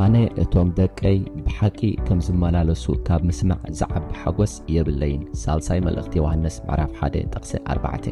ኣነ እቶም ደቀይ ብሓቂ ከም ዝመላለሱ ካብ ምስማዕ ዝዓቢ ሓጐስ የብለይን ሳልሳይ መልእኽቲ ዮሃንስ ምዕራፍ 1 ጥቕሲ 4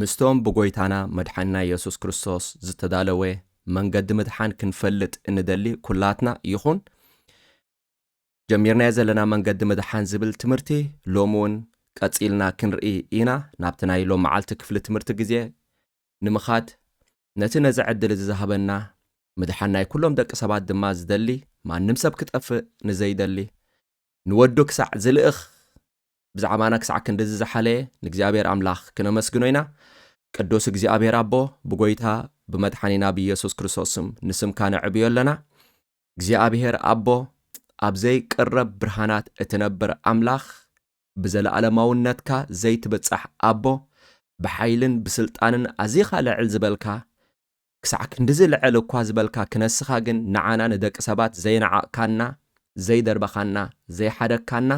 ምስቶም ብጐይታና መድሓኒና የሱስ ክርስቶስ ዝተዳለወ መንገዲ ምድሓን ክንፈልጥ እንደሊ ኵላትና ይኹን፣ ጀሚርናዮ ዘለና መንገዲ ምድሓን ዝብል ትምህርቲ ሎሚ እውን ቀጺልና ክንርኢ ኢና። ናብቲ ናይ ሎም መዓልቲ ክፍሊ ትምህርቲ ግዜ ንምኻድ ነቲ ነዚ ዕድል እዚ ዝሃበና ምድሓን ናይ ኵሎም ደቂ ሰባት ድማ ዝደሊ ማንም ሰብ ክጠፍእ ንዘይደሊ ንወዱ ክሳዕ ዝልእኽ ብዛዕባና ክሳዕ ክንድዚ ዝሓለየ ንእግዚኣብሔር ኣምላኽ ክነመስግኖ ኢና። ቅዱስ እግዚኣብሔር ኣቦ ብጎይታ ብመድሓኒና ብኢየሱስ ክርስቶስ ስም ንስምካ ነዕብዮ ኣለና። እግዚኣብሔር ኣቦ ኣብ ዘይቅረብ ብርሃናት እትነብር ኣምላኽ ብዘለኣለማውነትካ ዘይትብጻሕ ኣቦ ብሓይልን ብስልጣንን ኣዚኻ ልዕል ዝበልካ ክሳዕ ክንድዚ ልዕል እኳ ዝበልካ ክነስኻ ግን ንዓና ንደቂ ሰባት ዘይነዓቕካና ዘይደርበኻና ዘይሓደግካና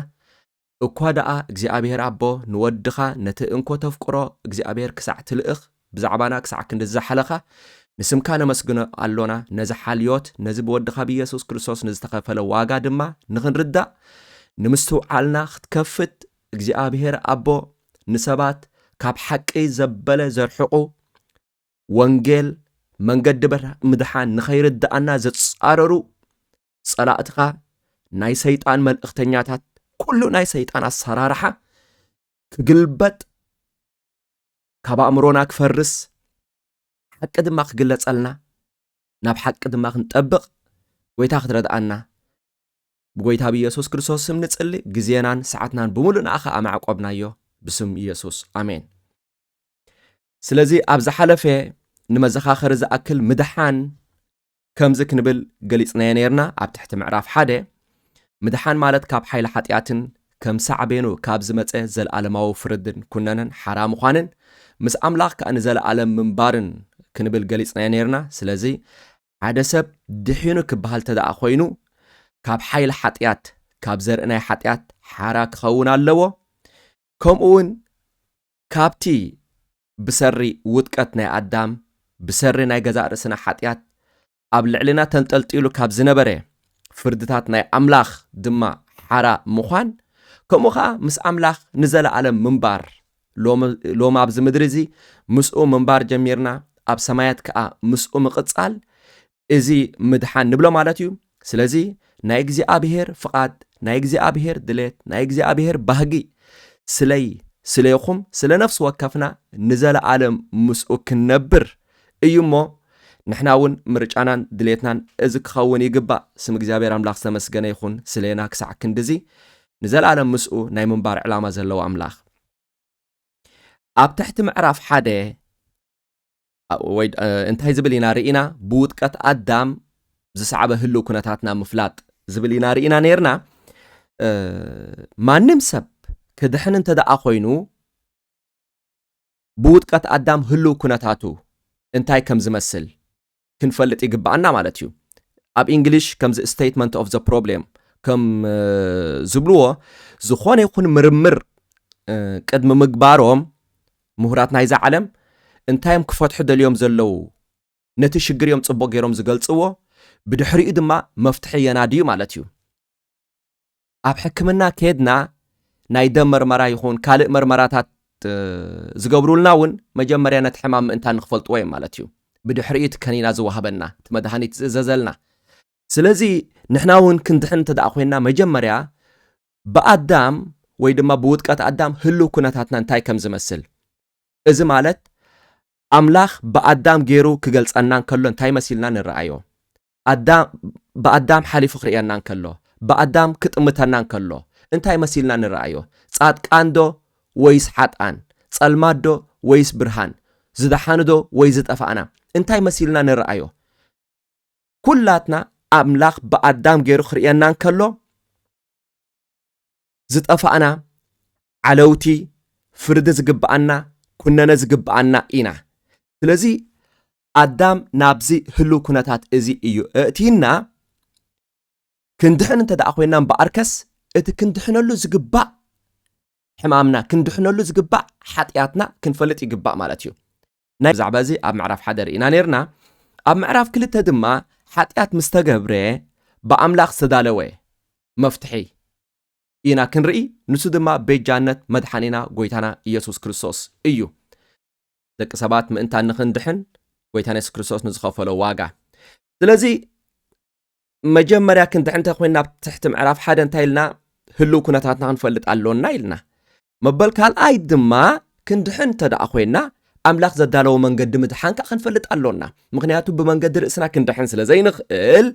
እኳ ደኣ እግዚኣብሄር ኣቦ ንወድኻ ነቲ እንኮ ተፍቅሮ እግዚኣብሄር ክሳዕ ትልእኽ ብዛዕባና ክሳዕ ክንድዚ ዝሓለኻ ንስምካ ነመስግኖ ኣሎና ነዚ ሓልዮት ነዚ ብወድኻ ብየሱስ ክርስቶስ ንዝተኸፈለ ዋጋ ድማ ንኽንርዳእ ንምስትውዓልና ክትከፍት እግዚኣብሄር ኣቦ ንሰባት ካብ ሓቂ ዘበለ ዘርሕቑ ወንጌል መንገዲ ምድሓን ንኸይርድኣና ዝጻረሩ ጸላእትኻ ናይ ሰይጣን መልእኽተኛታት ኩሉ ናይ ሰይጣን ኣሰራርሓ ክግልበጥ ካብ ኣእምሮና ክፈርስ ሓቂ ድማ ክግለጸልና ናብ ሓቂ ድማ ክንጠብቕ ጎይታ ክትረድኣና ብጎይታ ብኢየሱስ ክርስቶስ ስም ንጽሊ ግዜናን ሰዓትናን ብምሉእ ንኣኻ ኣማዕቆብናዮ ብስም ኢየሱስ ኣሜን ስለዚ ኣብ ዝሓለፈ ንመዘኻኸሪ ዝኣክል ምድሓን ከምዚ ክንብል ገሊጽናዮ ነርና ኣብ ትሕቲ ምዕራፍ ሓደ ምድሓን ማለት ካብ ሓይሊ ሓጢኣትን ከም ሳዕቤኑ ካብ ዝመጸ ዘለኣለማዊ ፍርድን ኩነነን ሓራ ምዃንን ምስ ኣምላኽ ከኣ ንዘለኣለም ምንባርን ክንብል ገሊጽናዮ ነርና ስለዚ ሓደ ሰብ ድሒኑ ክበሃል ተደኣ ኮይኑ ካብ ሓይሊ ሓጢኣት ካብ ዘርኢ ናይ ሓጢኣት ሓራ ክኸውን ኣለዎ ከምኡ እውን ካብቲ ብሰሪ ውድቀት ናይ ኣዳም፣ ብሰሪ ናይ ገዛእ ርእስና ሓጢኣት ኣብ ልዕሌና ተንጠልጢሉ ካብ ዝነበረ ፍርድታት ናይ ኣምላኽ ድማ ሓራ ምዃን፣ ከምኡ ኸኣ ምስ ኣምላኽ ንዘለኣለም ምንባር፣ ሎሚ ሎሚ ኣብዚ ምድሪ እዚ ምስኡ ምንባር ጀሚርና ኣብ ሰማያት ከኣ ምስኡ ምቕጻል እዚ ምድሓን ንብሎ ማለት እዩ። ስለዚ ናይ እግዚኣብሔር ፍቓድ፣ ናይ እግዚኣብሔር ድሌት፣ ናይ እግዚኣብሔር ባህጊ ስለይ ስለይኹም ስለ ነፍሲ ወከፍና ንዘለኣለም ምስኡ ክንነብር እዩ እሞ ንሕና እውን ምርጫናን ድሌትናን እዚ ክኸውን ይግባእ። ስም እግዚኣብሔር ኣምላኽ ዝተመስገነ ይኹን ስለና ክሳዕ ክንድዚ ንዘለኣለም ምስኡ ናይ ምንባር ዕላማ ዘለዎ ኣምላኽ። ኣብ ትሕቲ ምዕራፍ ሓደ ወይ እንታይ ዝብል ኢና ርኢና ብውጥቀት ኣዳም ዝሰዓበ ህልው ኩነታትና ምፍላጥ ዝብል ኢና ርኢና ነርና ማንም ሰብ ክድሕን እንተ ደኣ ኮይኑ ብውጥቀት ኣዳም ህልው ኩነታቱ እንታይ ከም ዝመስል ክንፈልጥ ይግባኣና ማለት እዩ ኣብ እንግሊሽ ከምዚ ስቴትመንት ኦፍ ዘ ፕሮብሌም ከም ዝብልዎ ዝኾነ ይኹን ምርምር ቅድሚ ምግባሮም ምሁራት ናይዛ ዓለም እንታይ'ዮም ክፈትሑ ደልዮም ዘለዉ? ነቲ ሽግር'ዮም ጽቡቕ ገይሮም ዝገልጽዎ፣ ብድሕሪኡ ድማ መፍትሒ የናድዩ ማለት'ዩ። ኣብ ሕክምና ኬድና ናይ ደም መርመራ ይኹን ካልእ መርመራታት ዝገብሩልና'ውን መጀመርያ ነቲ ሕማም ምእንታን ንክፈልጥዎ'ዮም ማለት'ዩ። ብድሕሪኡ እቲ ከኒና ዝወሃበና፣ እቲ መድሃኒት ዝእዘዘልና። ስለዚ ንሕና'ውን ክንድሕን እንተደኣ ኮይንና መጀመርያ ብኣዳም ወይ ድማ ብውድቀት ኣዳም ህልው ኩነታትና እንታይ ከም ዝመስል እዚ ማለት ኣምላኽ ብኣዳም ገይሩ ክገልጸና እንከሎ እንታይ መሲልና ንረኣዮ ብኣዳም ሓሊፉ ክርእየና እንከሎ ብኣዳም ክጥምተና እንከሎ እንታይ መሲልና ንረኣዮ ጻድቃንዶ ወይስ ሓጥኣን ጸልማዶ ወይስ ብርሃን ዝደሓንዶ ወይ ዝጠፋእና እንታይ መሲልና ንረኣዮ ኩላትና ኣምላኽ ብኣዳም ገይሩ ክርእየና እንከሎ ዝጠፋእና ዓለውቲ ፍርዲ ዝግብኣና ኩነነ ዝግብኣና ኢና ስለዚ ኣዳም ናብዚ ህልው ኩነታት እዚ እዩ እእቲና ክንድሕን እንተ ደኣ ኮይና እምበኣርከስ እቲ ክንድሕነሉ ዝግባእ ሕማምና ክንድሕነሉ ዝግባእ ሓጢኣትና ክንፈልጥ ይግባእ ማለት እዩ ናይ ብዛዕባ እዚ ኣብ ምዕራፍ ሓደ ርኢና ነርና ኣብ ምዕራፍ ክልተ ድማ ሓጢኣት ምስ ተገብረ ብኣምላኽ ዝተዳለወ መፍትሒ ኢና ክንርኢ ንሱ ድማ ቤጃነት መድሓኒና ጎይታና ኢየሱስ ክርስቶስ እዩ ደቂ ሰባት ምእንታ ንኽንድሕን ጎይታና የሱስ ክርስቶስ ንዝኸፈሎ ዋጋ ስለዚ መጀመርያ ክንድሕን እንተ ኮይንና ኣብ ትሕቲ ምዕራፍ ሓደ እንታይ ኢልና ህልው ኩነታትና ክንፈልጥ ኣሎና ኢልና መበል ካልኣይ ድማ ክንድሕን እንተደኣ ኮይና ኣምላኽ ዘዳለዎ መንገዲ ምድሓን ከኣ ክንፈልጥ ኣሎና። ምክንያቱ ብመንገዲ ርእስና ክንድሕን ስለ ዘይንኽእል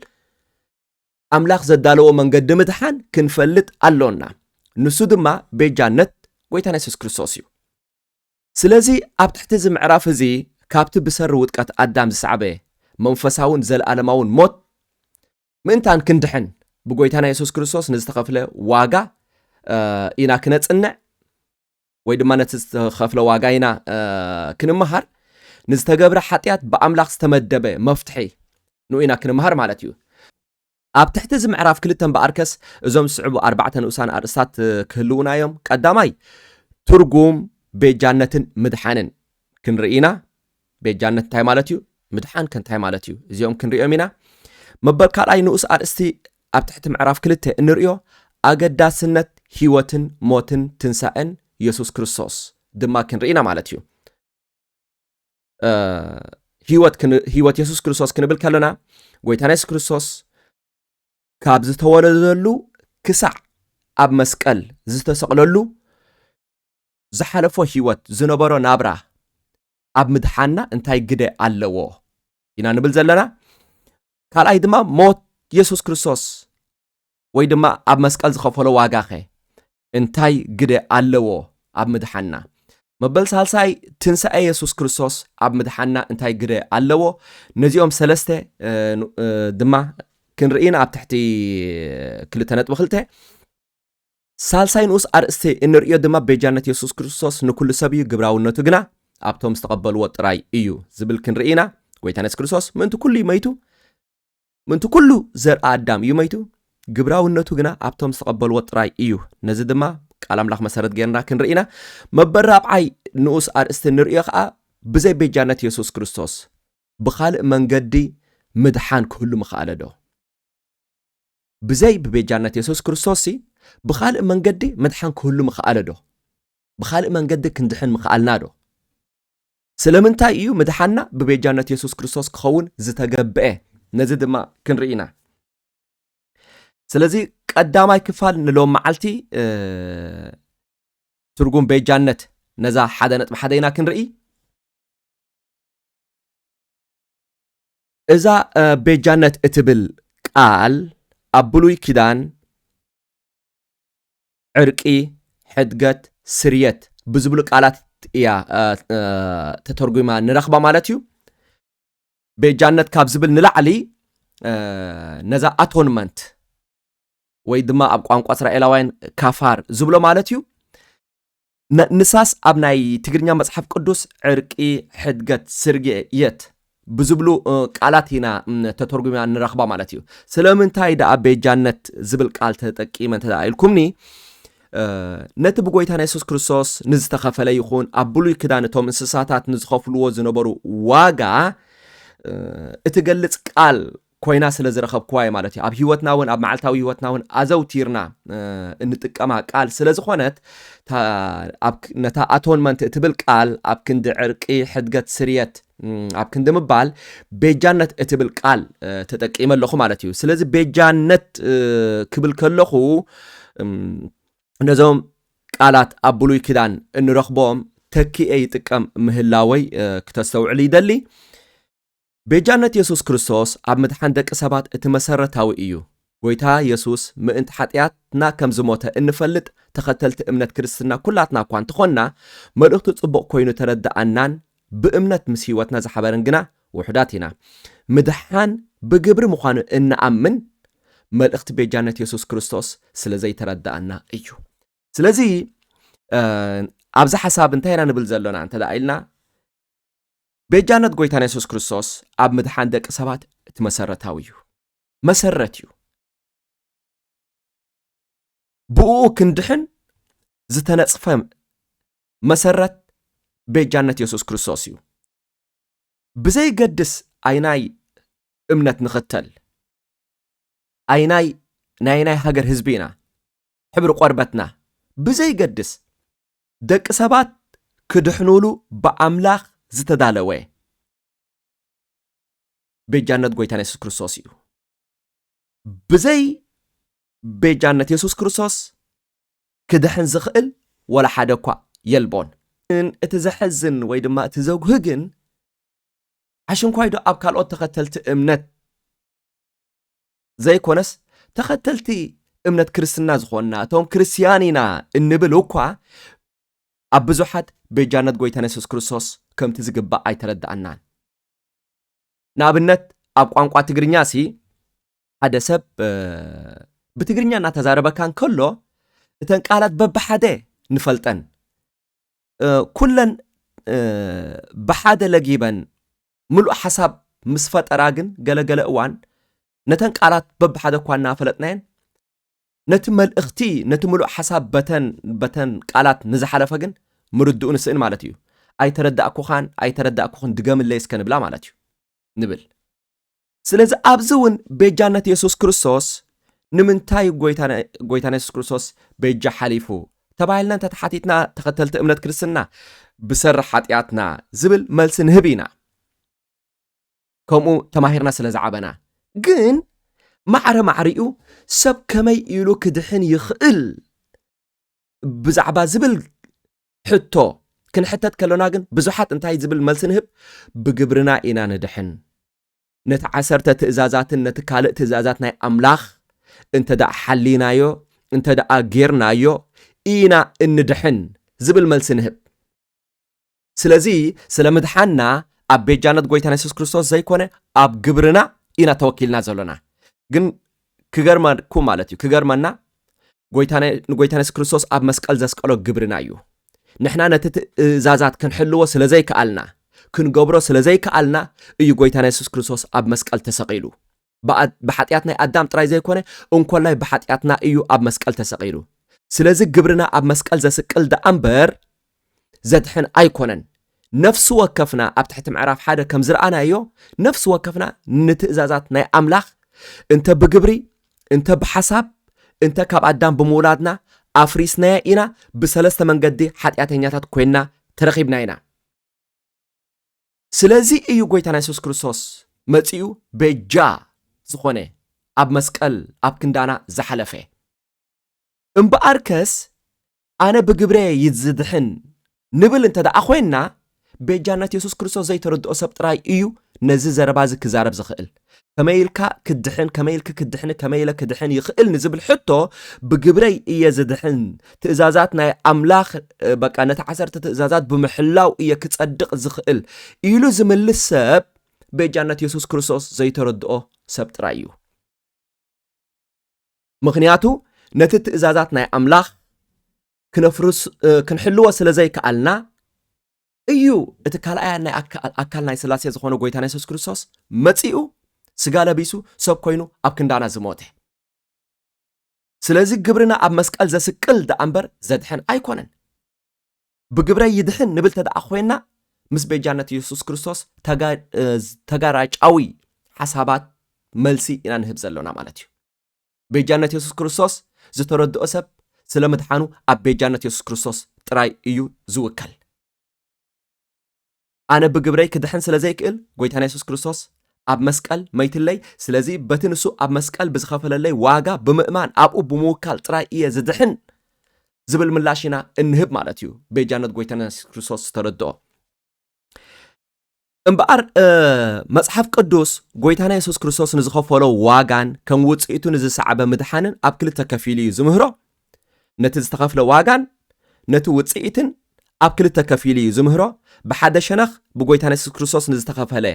ኣምላኽ ዘዳለዎ መንገዲ ምድሓን ክንፈልጥ ኣሎና። ንሱ ድማ ቤጃነት ጎይታና የሱስ ክርስቶስ እዩ ስለዚ ኣብ ትሕቲ እዚ ምዕራፍ እዚ ካብቲ ብሰሪ ውጥቀት ኣዳም ዝሰዕበ መንፈሳውን ዘለኣለማውን ሞት ምእንታን ክንድሕን ብጎይታና የሱስ ክርስቶስ ንዝተኸፍለ ዋጋ ኢና ክነጽንዕ ወይ ድማ ነቲ ዝተኸፍለ ዋጋ ኢና ክንመሃር ንዝተገብረ ሓጢኣት ብኣምላኽ ዝተመደበ መፍትሒ ንኡ ኢና ክንመሃር ማለት እዩ ኣብ ትሕቲ እዚ ምዕራፍ ክልተ እምበኣርከስ እዞም ዝስዕቡ ኣርባዕተ ንኡሳን ኣርእስታት ክህልውና እዮም ቀዳማይ ትርጉም ቤጃነትን ምድሓንን ክንርኢ ኢና ቤጃነት እንታይ ማለት እዩ? ምድሓን ከ እንታይ ማለት እዩ? እዚኦም ክንሪኦም ኢና። መበል ካልኣይ ንኡስ ኣርእስቲ ኣብ ትሕቲ ምዕራፍ ክልተ እንርእዮ ኣገዳስነት ህይወትን ሞትን ትንሳኤን የሱስ ክርስቶስ ድማ ክንርኢ ኢና ማለት እዩ ህይወት የሱስ ክርስቶስ ክንብል ከለና ጎይታና የሱስ ክርስቶስ ካብ ዝተወለደሉ ክሳዕ ኣብ መስቀል ዝተሰቕለሉ ዝሓለፎ ህይወት ዝነበሮ ናብራ ኣብ ምድሓንና እንታይ ግደ ኣለዎ ኢና ንብል ዘለና ካልኣይ ድማ ሞት የሱስ ክርስቶስ ወይ ድማ ኣብ መስቀል ዝኸፈሎ ዋጋኸ እንታይ ግደ ኣለዎ ኣብ ምድሓንና መበል ሳልሳይ ትንሳኤ የሱስ ክርስቶስ ኣብ ምድሓንና እንታይ ግደ ኣለዎ ነዚኦም ሰለስተ ድማ ክንርኢና ኣብ ትሕቲ ክልተ ነጥቢ ክልተ ሳልሳይ ንኡስ ኣርእስቲ እንርእዮ ድማ ቤጃነት የሱስ ክርስቶስ ንኩሉ ሰብ እዩ ግብራውነቱ ግና ኣብቶም ዝተቐበልዎ ጥራይ እዩ ዝብል ክንርኢ ኢና። ጎይታና የሱስ ክርስቶስ ምእንቲ ኩሉ እዩ መይቱ፣ ምእንቲ ኩሉ ዘርኣ ኣዳም እዩ መይቱ፣ ግብራውነቱ ግና ኣብቶም ዝተቐበልዎ ጥራይ እዩ። ነዚ ድማ ቃል ኣምላኽ መሰረት ገይርና ክንርኢ ኢና። መበል ራብዓይ ንኡስ ኣርእስቲ እንርእዮ ከኣ ብዘይ ቤጃነት የሱስ ክርስቶስ ብኻልእ መንገዲ ምድሓን ክህሉ ምኸኣለ ዶ? ብዘይ ብቤጃነት የሱስ ክርስቶስሲ ብኻልእ መንገዲ ምድሓን ክህሉ ምኸኣለዶ? ብኻልእ መንገዲ ክንድሕን ምኸኣልናዶ? ስለምንታይ እዩ ምድሓንና ብቤጃነት የሱስ ክርስቶስ ክኸውን ዝተገብአ? ነዚ ድማ ክንርኢ ኢና። ስለዚ ቀዳማይ ክፋል ንሎም መዓልቲ ትርጉም ቤጃነት ነዛ ሓደ ነጥቢ ሓደ ኢና ክንርኢ። እዛ ቤጃነት እትብል ቃል ኣብ ብሉይ ኪዳን ዕርቂ፣ ሕድገት፣ ስርየት ብዝብሉ ቃላት እያ ተተርጒማ ንረኽባ ማለት እዩ። ቤጃነት ካብ ዝብል ንላዕሊ ነዛ ኣቶንመንት ወይ ድማ ኣብ ቋንቋ እስራኤላውያን ካፋር ዝብሎ ማለት እዩ ን ንሳስ ኣብ ናይ ትግርኛ መጽሓፍ ቅዱስ ዕርቂ ሕድገት ስርጌ የት ብዝብሉ ቃላት ኢና ተተርጉማ ንረኽባ ማለት እዩ። ስለምንታይ ደኣ ቤጃነት ዝብል ቃል ተጠቂመ እንተ ደኣ ኢልኩምኒ ነቲ ብጎይታና የሱስ ክርስቶስ ንዝተኸፈለ ይኹን ኣብ ብሉይ ክዳን እቶም እንስሳታት ንዝኸፍልዎ ዝነበሩ ዋጋ እትገልጽ ቃል ኮይና ስለ ዝረኸብክዋ እየ ማለት እዩ። ኣብ ህይወትና እውን ኣብ መዓልታዊ ህይወትና እውን ኣዘውቲርና እንጥቀማ ቃል ስለ ዝኾነት ነታ ኣቶንመንት እትብል ቃል ኣብ ክንዲ ዕርቂ፣ ሕድገት፣ ስርየት ኣብ ክንዲ ምባል ቤጃነት እትብል ቃል ተጠቂመ ኣለኹ ማለት እዩ ስለዚ ቤጃነት ክብል ከለኹ ነዞም ቃላት ኣብ ብሉይ ኪዳን እንረኽቦም ተኪኤ ይጥቀም ምህላወይ ክተስተውዕሉ ይደሊ ቤጃነት የሱስ ክርስቶስ ኣብ ምድሓን ደቂ ሰባት እቲ መሰረታዊ እዩ። ጐይታ የሱስ ምእንቲ ሓጥያትና ከም ዝሞተ እንፈልጥ ተኸተልቲ እምነት ክርስትና ኩላትና እኳ እንተኾንና፣ መልእኽቱ ጽቡቕ ኮይኑ ተረድኣናን ብእምነት ምስ ህይወትና ዝሓበረን ግና ውሑዳት ኢና። ምድሓን ብግብሪ ምዃኑ እንኣምን መልእኽቲ ቤጃነት የሱስ ክርስቶስ ስለ ዘይተረድኣና እዩ። ስለዚ ኣብዚ ሓሳብ እንታይ ኢና ንብል ዘሎና እንተ ኢልና ቤጃነት ጎይታና የሱስ ክርስቶስ ኣብ ምድሓን ደቂ ሰባት እቲ መሰረታዊ እዩ። መሰረት እዩ። ብእኡ ክንድሕን ዝተነጽፈ መሰረት ቤጃነት የሱስ ክርስቶስ እዩ። ብዘይገድስ ኣይናይ እምነት ንኽተል ኣይናይ ናይ ናይ ሃገር ህዝቢ ኢና ሕብሪ ቆርበትና ብዘይገድስ ደቂ ሰባት ክድሕኑሉ ብኣምላኽ ዝተዳለወ ቤጃነት ጎይታና የሱስ ክርስቶስ እዩ። ብዘይ ቤጃነት የሱስ ክርስቶስ ክድሕን ዝኽእል ወላ ሓደ እኳ የልቦን። እቲ ዘሕዝን ወይ ድማ እቲ ዘጉህ ግን ኣሽንኳይዶ ኣብ ካልኦት ተኸተልቲ እምነት ዘይኮነስ ተኸተልቲ እምነት ክርስትና ዝኾንና እቶም ክርስትያን ኢና እንብል እኳ ኣብ ብዙሓት ቤጃነት ጎይታና የሱስ ክርስቶስ ከምቲ ዝግባእ ኣይተረዳእናን ንኣብነት ኣብ ቋንቋ ትግርኛ ሲ ሓደ ሰብ ብትግርኛ እናተዛረበካ እንከሎ እተን ቃላት በብሓደ ንፈልጠን ኩለን ብሓደ ለጊበን ምሉእ ሓሳብ ምስ ፈጠራ ግን ገለ ገለ እዋን ነተን ቃላት በብሓደ እኳ እናፈለጥናየን ነቲ መልእኽቲ ነቲ ምሉእ ሓሳብ በተን በተን ቃላት ንዝሓለፈ ግን ምርድኡ ንስእን ማለት እዩ ኣይተረዳእኩኻን ኣይተረዳእኩኽን ድገምለይ እስከ ንብላ ማለት እዩ ንብል ስለዚ ኣብዚ እውን ቤጃነት የሱስ ክርስቶስ ንምንታይ ጎይታና የሱስ ክርስቶስ ቤጃ ሓሊፉ ተባሂልና እንተተሓቲትና ተኸተልቲ እምነት ክርስትና ብሰሪ ሓጢኣትና ዝብል መልሲ ንህብ ኢና ከምኡ ተማሂርና ስለ ዝዓበና ግን ማዕረ ማዕሪኡ ሰብ ከመይ ኢሉ ክድሕን ይኽእል ብዛዕባ ዝብል ሕቶ ክንሕተት ከሎና ግን ብዙሓት እንታይ ዝብል መልሲ ንህብ ብግብርና ኢና ንድሕን ነቲ ዓሰርተ ትእዛዛትን ነቲ ካልእ ትእዛዛት ናይ ኣምላኽ እንተ ደኣ ሓሊናዮ እንተ ደኣ ጌርናዮ ኢና እንድሕን ዝብል መልሲ ንህብ። ስለዚ ስለ ምድሓንና ኣብ ቤጃነት ጎይታና የሱስ ክርስቶስ ዘይኮነ ኣብ ግብርና ኢና ተወኪልና ዘሎና። ግን ክገርመኩም ማለት እዩ ክገርመና ጎይታና ንጎይታና የሱስ ክርስቶስ ኣብ መስቀል ዘስቀሎ ግብርና እዩ ንሕና ነቲ ትእዛዛት ክንሕልዎ ስለ ዘይከኣልና ክንገብሮ ስለ ዘይከኣልና እዩ ጎይታና የሱስ ክርስቶስ ኣብ መስቀል ተሰቒሉ ብሓጢኣት ናይ ኣዳም ጥራይ ዘይኮነ እንኮላይ ብሓጢኣትና እዩ ኣብ መስቀል ተሰቒሉ ስለዚ ግብርና ኣብ መስቀል ዘስቅል ደኣ እምበር ዘድሕን ኣይኮነን። ነፍሲ ወከፍና ኣብ ትሕቲ ምዕራፍ ሓደ ከም ዝረኣናዮ ነፍሲ ወከፍና ንትእዛዛት ናይ ኣምላኽ እንተ ብግብሪ እንተ ብሓሳብ እንተ ካብ ኣዳም ብምውላድና ኣፍሪስናዮ ኢና፣ ብሰለስተ መንገዲ ሓጢኣተኛታት ኮይንና ተረኺብና ኢና። ስለዚ እዩ ጎይታና የሱስ ክርስቶስ መጺኡ ቤጃ ዝኾነ ኣብ መስቀል ኣብ ክንዳና ዝሓለፈ። እምበኣርከስ ኣነ ብግብረ እየ ዝድሕን ንብል እንተ ደኣ ኾይንና፣ ቤጃነት የሱስ ክርስቶስ ዘይተረድኦ ሰብ ጥራይ እዩ ነዚ ዘረባ እዚ ክዛረብ ዝኽእል። ከመይ ኢልካ ክትድሕን፣ ከመይ ኢልኪ ክትድሕኒ፣ ከመይ ኢለ ክድሕን ይኽእል ንዝብል ሕቶ፣ ብግብረይ እየ ዝድሕን፣ ትእዛዛት ናይ ኣምላኽ በቃ ነቲ ዓሰርተ ትእዛዛት ብምሕላው እየ ክጸድቕ ዝኽእል ኢሉ ዝምልስ ሰብ ቤጃነት የሱስ ክርስቶስ ዘይተረድኦ ሰብ ጥራይ እዩ። ምኽንያቱ ነቲ ትእዛዛት ናይ ኣምላኽ ክነፍርስ ክንሕልዎ ስለ ዘይከኣልና እዩ እቲ ካልኣያን ናይ ኣካል ናይ ስላሴ ዝኾነ ጎይታና የሱስ ክርስቶስ መጺኡ ስጋ ለቢሱ ሰብ ኮይኑ ኣብ ክንዳና ዝሞተ ስለዚ ግብርና ኣብ መስቀል ዘስቅል ደኣ እምበር ዘድሕን ኣይኮነን ብግብረይ ይድሕን ንብል ተደኣ ኮይና ምስ ቤጃነት የሱስ ክርስቶስ ተጋራጫዊ ሓሳባት መልሲ ኢና ንህብ ዘሎና ማለት እዩ ቤጃነት የሱስ ክርስቶስ ዝተረድኦ ሰብ ስለ ምድሓኑ ኣብ ቤጃነት የሱስ ክርስቶስ ጥራይ እዩ ዝውከል። ኣነ ብግብረይ ክድሕን ስለ ዘይክእል ጎይታና የሱስ ክርስቶስ ኣብ መስቀል መይትለይ ስለዚ በቲ ንሱ ኣብ መስቀል ብዝኸፈለለይ ዋጋ ብምእማን ኣብኡ ብምውካል ጥራይ እየ ዝድሕን ዝብል ምላሽ ኢና እንህብ ማለት እዩ ቤጃነት ጎይታና የሱስ ክርስቶስ ዝተረድኦ እምበኣር መጽሓፍ ቅዱስ ጐይታና የሱስ ክርስቶስ ንዝኸፈሎ ዋጋን ከም ውጽኢቱ ንዝሰዓበ ምድሓንን ኣብ ክልተ ከፊሉ እዩ ዝምህሮ። ነቲ ዝተኸፍለ ዋጋን ነቲ ውጽኢትን ኣብ ክልተ ከፊሉ እዩ ዝምህሮ። ብሓደ ሸነኽ ብጐይታና የሱስ ክርስቶስ ንዝተኸፈለ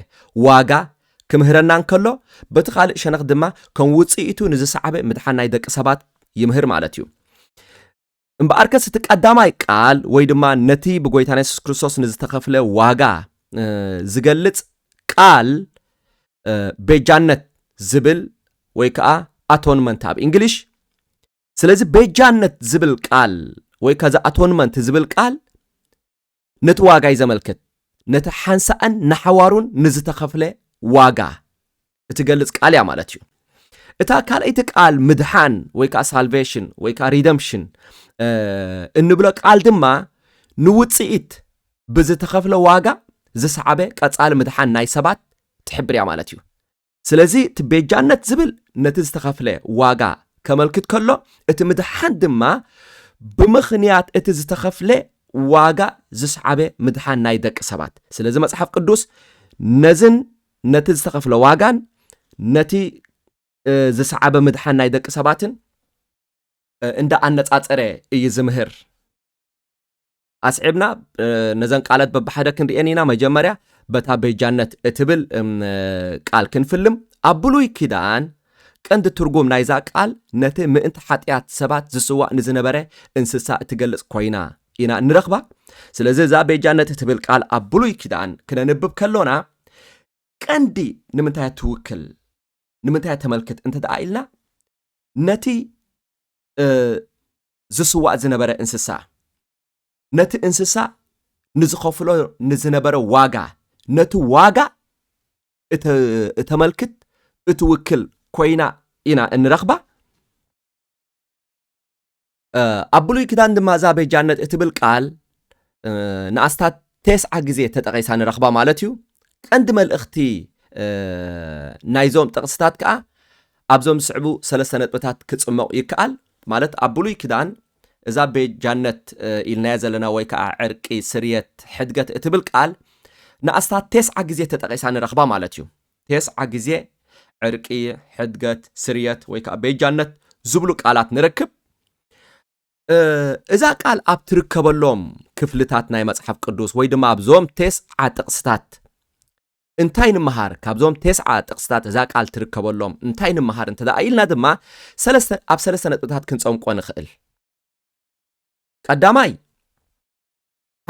ዋጋ ክምህረና እንከሎ፣ በቲ ካልእ ሸነኽ ድማ ከም ውጽኢቱ ንዝሰዓበ ምድሓን ናይ ደቂ ሰባት ይምህር ማለት እዩ። እምበኣርከስ እቲ ቀዳማይ ቃል ወይ ድማ ነቲ ብጎይታና የሱስ ክርስቶስ ንዝተኸፍለ ዋጋ ዝገልጽ ቃል ቤጃነት ዝብል ወይ ከዓ ኣቶንመንት ኣብ እንግሊሽ ስለዚ ቤጃነት ዝብል ቃል ወይ ከዚ ኣቶንመንት ዝብል ቃል ነቲ ዋጋይ ዘመልክት ነቲ ሓንሳእን ንሓዋሩን ንዝተኸፍለ ዋጋ እትገልጽ ቃል እያ ማለት እዩ። እታ ካልኣይቲ ቃል ምድሓን ወይ ከዓ ሳልቬሽን ወይ ከዓ ሪደምፕሽን እንብሎ ቃል ድማ ንውፅኢት ብዝተኸፍለ ዋጋ ዝሰዓበ ቀፃሊ ምድሓን ናይ ሰባት ትሕብር እያ ማለት እዩ። ስለዚ እቲ ቤጃነት ዝብል ነቲ ዝተኸፍለ ዋጋ ከመልክት ከሎ እቲ ምድሓን ድማ ብምኽንያት እቲ ዝተኸፍለ ዋጋ ዝስዓበ ምድሓን ናይ ደቂ ሰባት ስለዚ መጽሓፍ ቅዱስ ነዝን ነቲ ዝተኸፍለ ዋጋን ነቲ ዝሰዓበ ምድሓን ናይ ደቂ ሰባትን እንዳ ኣነጻጸረ እዩ ዝምህር ኣስዒብና ነዘን ቃለት በብሓደ ክንርኤን ኢና መጀመርያ በታ ቤጃነት እትብል ቃል ክንፍልም ኣብ ብሉይ ኪዳን ቀንዲ ትርጉም ናይዛ ቃል ነቲ ምእንቲ ሓጢኣት ሰባት ዝስዋእ ንዝነበረ እንስሳ እትገልጽ ኮይና ኢና እንረኽባ ስለዚ እዛ ቤጃነት እትብል ቃል ኣብ ብሉይ ኪዳን ክነንብብ ከሎና ቀንዲ ንምንታይ ትውክል ንምንታይ ተመልክት እንተ ደኣ ኢልና ነቲ ዝስዋእ ዝነበረ እንስሳ፣ ነቲ እንስሳ ንዝኸፍሎ ንዝነበረ ዋጋ፣ ነቲ ዋጋ እተመልክት፣ እትውክል ኮይና ኢና እንረኽባ። ኣብ ብሉይ ኪዳን ድማ እዛ ቤጃነት እትብል ቃል ንኣስታት ቴስዓ ግዜ ተጠቒሳ ንረኽባ ማለት እዩ። ቀንዲ መልእኽቲ ናይዞም ጥቕስታት ከኣ ኣብዞም ዝስዕቡ ሰለስተ ነጥብታት ክጽመቑ ይከኣል። ማለት ኣብ ብሉይ ኪዳን እዛ ቤጃነት ኢልናያ ዘለና ወይ ከዓ ዕርቂ፣ ስርየት፣ ሕድገት እትብል ቃል ንኣስታት ቴስዓ ግዜ ተጠቒሳ ንረኽባ ማለት እዩ። ቴስዓ ግዜ ዕርቂ፣ ሕድገት፣ ስርየት ወይ ከዓ ቤጃነት ዝብሉ ቃላት ንረክብ። እዛ ቃል ኣብ ትርከበሎም ክፍልታት ናይ መጽሓፍ ቅዱስ ወይ ድማ ኣብዞም ቴስዓ ጥቕስታት እንታይ ንምሃር ካብዞም ቴስዓ ጥቕስታት እዛ ቃል ትርከበሎም እንታይ ንምሃር እንተ ደኣ ኢልና ድማ ሰለስተ ኣብ ሰለስተ ነጥብታት ክንጸምቆ ንኽእል ቀዳማይ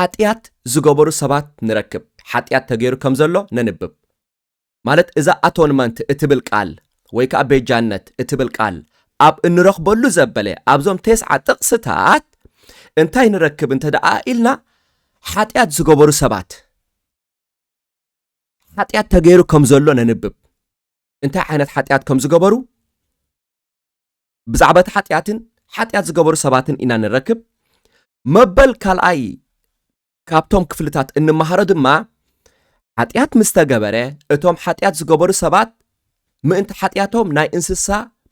ሓጢኣት ዝገበሩ ሰባት ንረክብ ሓጢኣት ተገይሩ ከም ዘሎ ነንብብ ማለት እዛ ኣቶንመንት እትብል ቃል ወይ ከኣ ቤጃነት እትብል ቃል ኣብ እንረኽበሉ ዘበለ ኣብዞም ቴስዓ ጥቕስታት እንታይ ንረክብ እንተ ደኣ ኢልና ሓጢኣት ዝገበሩ ሰባት ሓጢኣት ተገይሩ ከም ዘሎ ነንብብ እንታይ ዓይነት ሓጢኣት ከም ዝገበሩ ብዛዕባ እቲ ሓጢኣትን ሓጢኣት ዝገበሩ ሰባትን ኢና ንረክብ መበል ካልኣይ ካብቶም ክፍልታት እንመሃሮ ድማ ሓጢኣት ምስ ተገበረ እቶም ሓጢኣት ዝገበሩ ሰባት ምእንቲ ሓጢኣቶም ናይ እንስሳ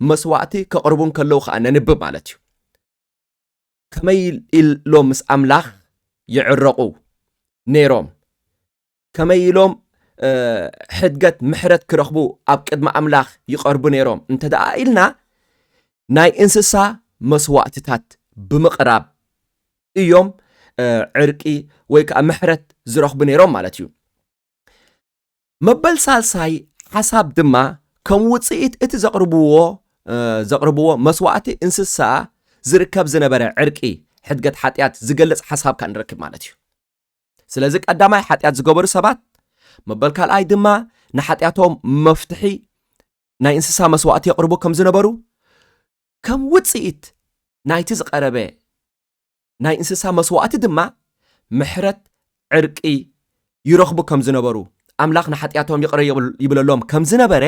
መስዋእቲ ከቕርቡ እንከለዉ ከዓ ነንብብ ማለት እዩ ከመይ ኢሎም ምስ ኣምላኽ ይዕረቑ ነይሮም ከመይ ኢሎም ሕድገት ምሕረት ክረኽቡ ኣብ ቅድሚ ኣምላኽ ይቐርቡ ነይሮም እንተ ደኣ ኢልና ናይ እንስሳ መስዋእትታት ብምቕራብ እዮም ዕርቂ ወይ ከዓ ምሕረት ዝረኽቡ ነይሮም ማለት እዩ። መበል ሳልሳይ ሓሳብ ድማ ከም ውፅኢት እቲ ዘቕርብዎ ዘቕርብዎ መስዋእቲ እንስሳ ዝርከብ ዝነበረ ዕርቂ ሕድገት ሓጢኣት ዝገልፅ ሓሳብ ካኣ ንረክብ ማለት እዩ ስለዚ ቀዳማይ ሓጢኣት ዝገበሩ ሰባት መበል ካልኣይ ድማ ንሓጢኣቶም መፍትሒ ናይ እንስሳ መስዋእቲ የቕርቡ ከም ዝነበሩ ከም ውፅኢት ናይቲ ዝቐረበ ናይ እንስሳ መስዋእቲ ድማ ምሕረት ዕርቂ ይረኽቡ ከም ዝነበሩ ኣምላኽ ንሓጢኣቶም ይቕረ ይብለሎም ከም ዝነበረ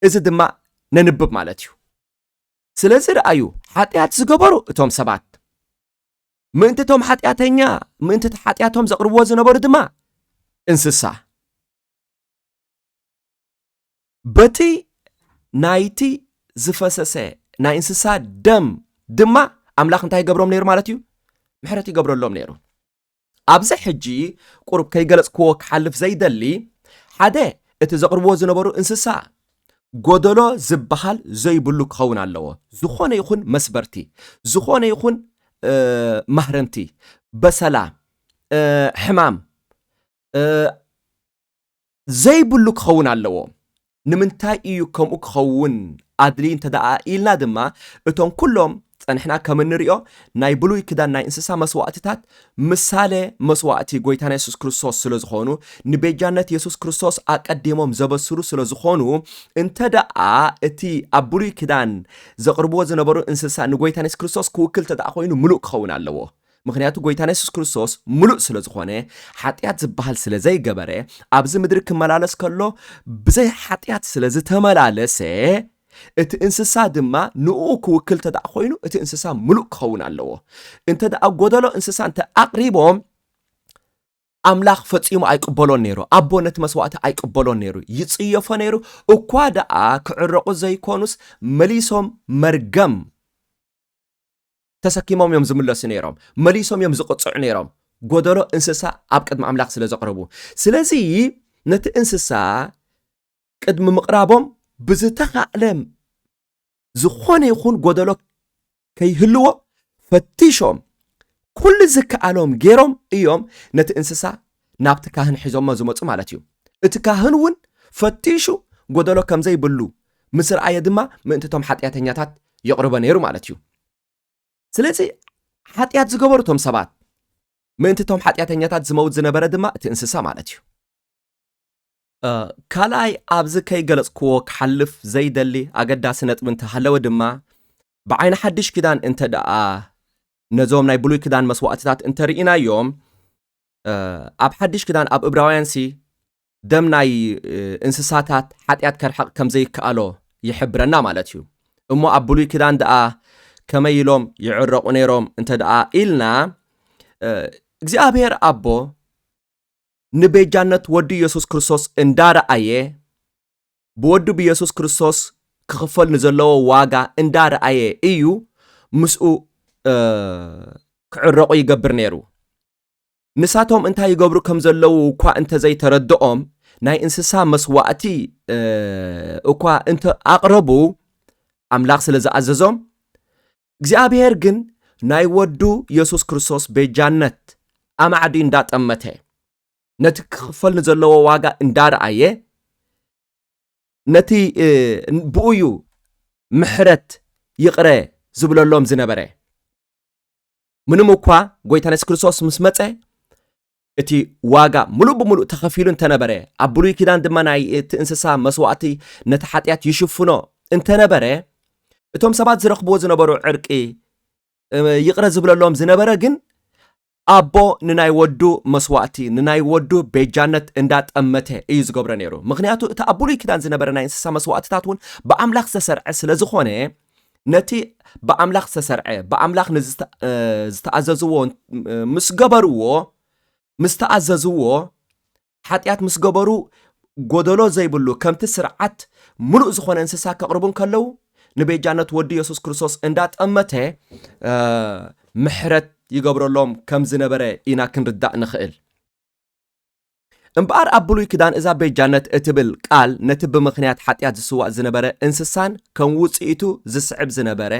እዚ ድማ ነንብብ ማለት እዩ ስለዚ ረኣዩ ሓጢኣት ዝገበሩ እቶም ሰባት ምእንቲ እቶም ሓጢኣተኛ ምእንቲ እቲ ሓጢኣቶም ዘቕርብዎ ዝነበሩ ድማ እንስሳ በቲ ናይቲ ዝፈሰሰ ናይ እንስሳ ደም ድማ ኣምላኽ እንታይ ይገብሮም ነይሩ ማለት እዩ ምሕረት ይገብረሎም ነይሩ ኣብዚ ሕጂ ቁሩብ ከይገለፅክዎ ክሓልፍ ዘይደሊ ሓደ እቲ ዘቕርብዎ ዝነበሩ እንስሳ ጎደሎ ዝበሃል ዘይብሉ ክኸውን ኣለዎ። ዝኾነ ይኹን መስበርቲ፣ ዝኾነ ይኹን ማህረምቲ፣ በሰላ፣ ሕማም ዘይብሉ ክኸውን ኣለዎ። ንምንታይ እዩ ከምኡ ክኸውን ኣድልዩ እንተ ኢልና ድማ እቶም ኩሎም ጸንሕና ከም እንርእዮ ናይ ብሉይ ክዳን ናይ እንስሳ መስዋእትታት ምሳሌ መስዋእቲ ጎይታና የሱስ ክርስቶስ ስለ ዝኾኑ ንቤጃነት የሱስ ክርስቶስ ኣቀዲሞም ዘበስሩ ስለ ዝኾኑ እንተ ደኣ እቲ ኣብ ብሉይ ክዳን ዘቕርብዎ ዝነበሩ እንስሳ ንጎይታና የሱስ ክርስቶስ ክውክል እንተ ደኣ ኮይኑ ምሉእ ክኸውን ኣለዎ። ምክንያቱ ጎይታና የሱስ ክርስቶስ ምሉእ ስለ ዝኾነ ሓጢኣት ዝበሃል ስለ ዘይገበረ ኣብዚ ምድሪ ክመላለስ ከሎ ብዘይ ሓጢኣት ስለ ዝተመላለሰ እቲ እንስሳ ድማ ንእኡ ክውክል እንተ ኮይኑ እቲ እንስሳ ምሉእ ክኸውን ኣለዎ እንተ ጎደሎ እንስሳ እንተ ኣቕሪቦም ኣምላኽ ፈጺሙ ኣይቅበሎን ነይሩ ኣቦ ነቲ መስዋእቲ ኣይቅበሎን ነይሩ ይጽየፎ ነይሩ እኳ ደኣ ክዕረቑ ዘይኮኑስ መሊሶም መርገም ተሰኪሞም እዮም ዝምለሱ ነይሮም መሊሶም እዮም ዝቕጽዑ ነይሮም ጎደሎ እንስሳ ኣብ ቅድሚ ኣምላኽ ስለ ዘቕረቡ ስለዚ ነቲ እንስሳ ቅድሚ ምቕራቦም ብዝተኻእለ ዝኾነ ይኹን ጎደሎ ከይህልዎ ፈቲሾም ኩሉ ዝከኣሎም ገይሮም እዮም ነቲ እንስሳ ናብቲ ካህን ሒዞሞ ዝመፁ ማለት እዩ እቲ ካህን እውን ፈቲሹ ጎደሎ ከም ዘይብሉ ምስ ረኣየ ድማ ምእንቲ እቶም ሓጢኣተኛታት የቕርቦ ነይሩ ማለት እዩ ስለዚ ሓጢኣት ዝገበሩ እቶም ሰባት ምእንቲ እቶም ሓጢኣተኛታት ዝመውት ዝነበረ ድማ እቲ እንስሳ ማለት እዩ ካልኣይ ኣብዚ ከይገለጽክዎ ክሓልፍ ዘይደሊ ኣገዳሲ ነጥቢ እንተሃለወ ድማ ብዓይኒ ሓድሽ ኪዳን እንተ ደኣ ነዞም ናይ ብሉይ ክዳን መስዋእትታት እንተ ርኢናዮም ኣብ ሓድሽ ክዳን ኣብ እብራውያን ሲ ደም ናይ እንስሳታት ሓጢኣት ከርሕቕ ከም ዘይከኣሎ ይሕብረና ማለት እዩ እሞ ኣብ ብሉይ ክዳን ደኣ ከመይ ኢሎም ይዕረቑ ነይሮም እንተ ደኣ ኢልና እግዚኣብሔር ኣቦ ንቤጃነት ወዱ ኢየሱስ ክርስቶስ እንዳ ረኣየ፣ ብወዱ ብኢየሱስ ክርስቶስ ክኽፈል ንዘለዎ ዋጋ እንዳ ረኣየ እዩ ምስኡ ክዕረቑ ይገብር ነይሩ። ንሳቶም እንታይ ይገብሩ ከም ዘለዉ እኳ እንተዘይተረድኦም ናይ እንስሳ መስዋእቲ እኳ እንተ ኣቕረቡ ኣምላኽ ስለ ዝኣዘዞም እግዚኣብሔር ግን ናይ ወዱ የሱስ ክርስቶስ ቤጃነት ኣማዕዲ እንዳጠመተ ነቲ ክኽፈል ንዘለዎ ዋጋ እንዳረኣየ ነቲ ብኡዩ ምሕረት ይቕረ ዝብለሎም ዝነበረ ምንም እኳ ጎይታን የሱስ ክርስቶስ ምስ መፀ እቲ ዋጋ ምሉእ ብምሉእ ተኸፊሉ እንተ ነበረ፣ ኣብ ብሉይ ኪዳን ድማ ናይ እቲ እንስሳ መስዋእቲ ነቲ ሓጢኣት ይሽፍኖ እንተ ነበረ፣ እቶም ሰባት ዝረኽብዎ ዝነበሩ ዕርቂ ይቕረ ዝብለሎም ዝነበረ ግን ኣቦ ንናይ ወዱ መስዋእቲ ንናይ ወዱ ቤጃነት እንዳጠመተ እዩ ዝገብሮ ነይሩ። ምክንያቱ እቲ ኣብ ብሉይ ኪዳን ዝነበረ ናይ እንስሳ መስዋእትታት እውን ብኣምላኽ ዝተሰርዐ ስለ ዝኾነ ነቲ ብኣምላኽ ዝተሰርዐ ብኣምላኽ ንዝተኣዘዝዎ ምስ ገበርዎ ምስ ተኣዘዝዎ ሓጢኣት ምስ ገበሩ ጎደሎ ዘይብሉ ከምቲ ስርዓት ምሉእ ዝኾነ እንስሳ ከቕርቡ እንከለዉ ንቤጃነት ወዲ የሱስ ክርስቶስ እንዳጠመተ ምሕረት ይገብረሎም ከም ዝነበረ ኢና ክንርዳእ ንኽእል እምበኣር ኣብ ብሉይ ክዳን እዛ ቤጃነት እትብል ቃል ነቲ ብምኽንያት ሓጢኣት ዝስዋእ ዝነበረ እንስሳን ከም ውጽኢቱ ዝስዕብ ዝነበረ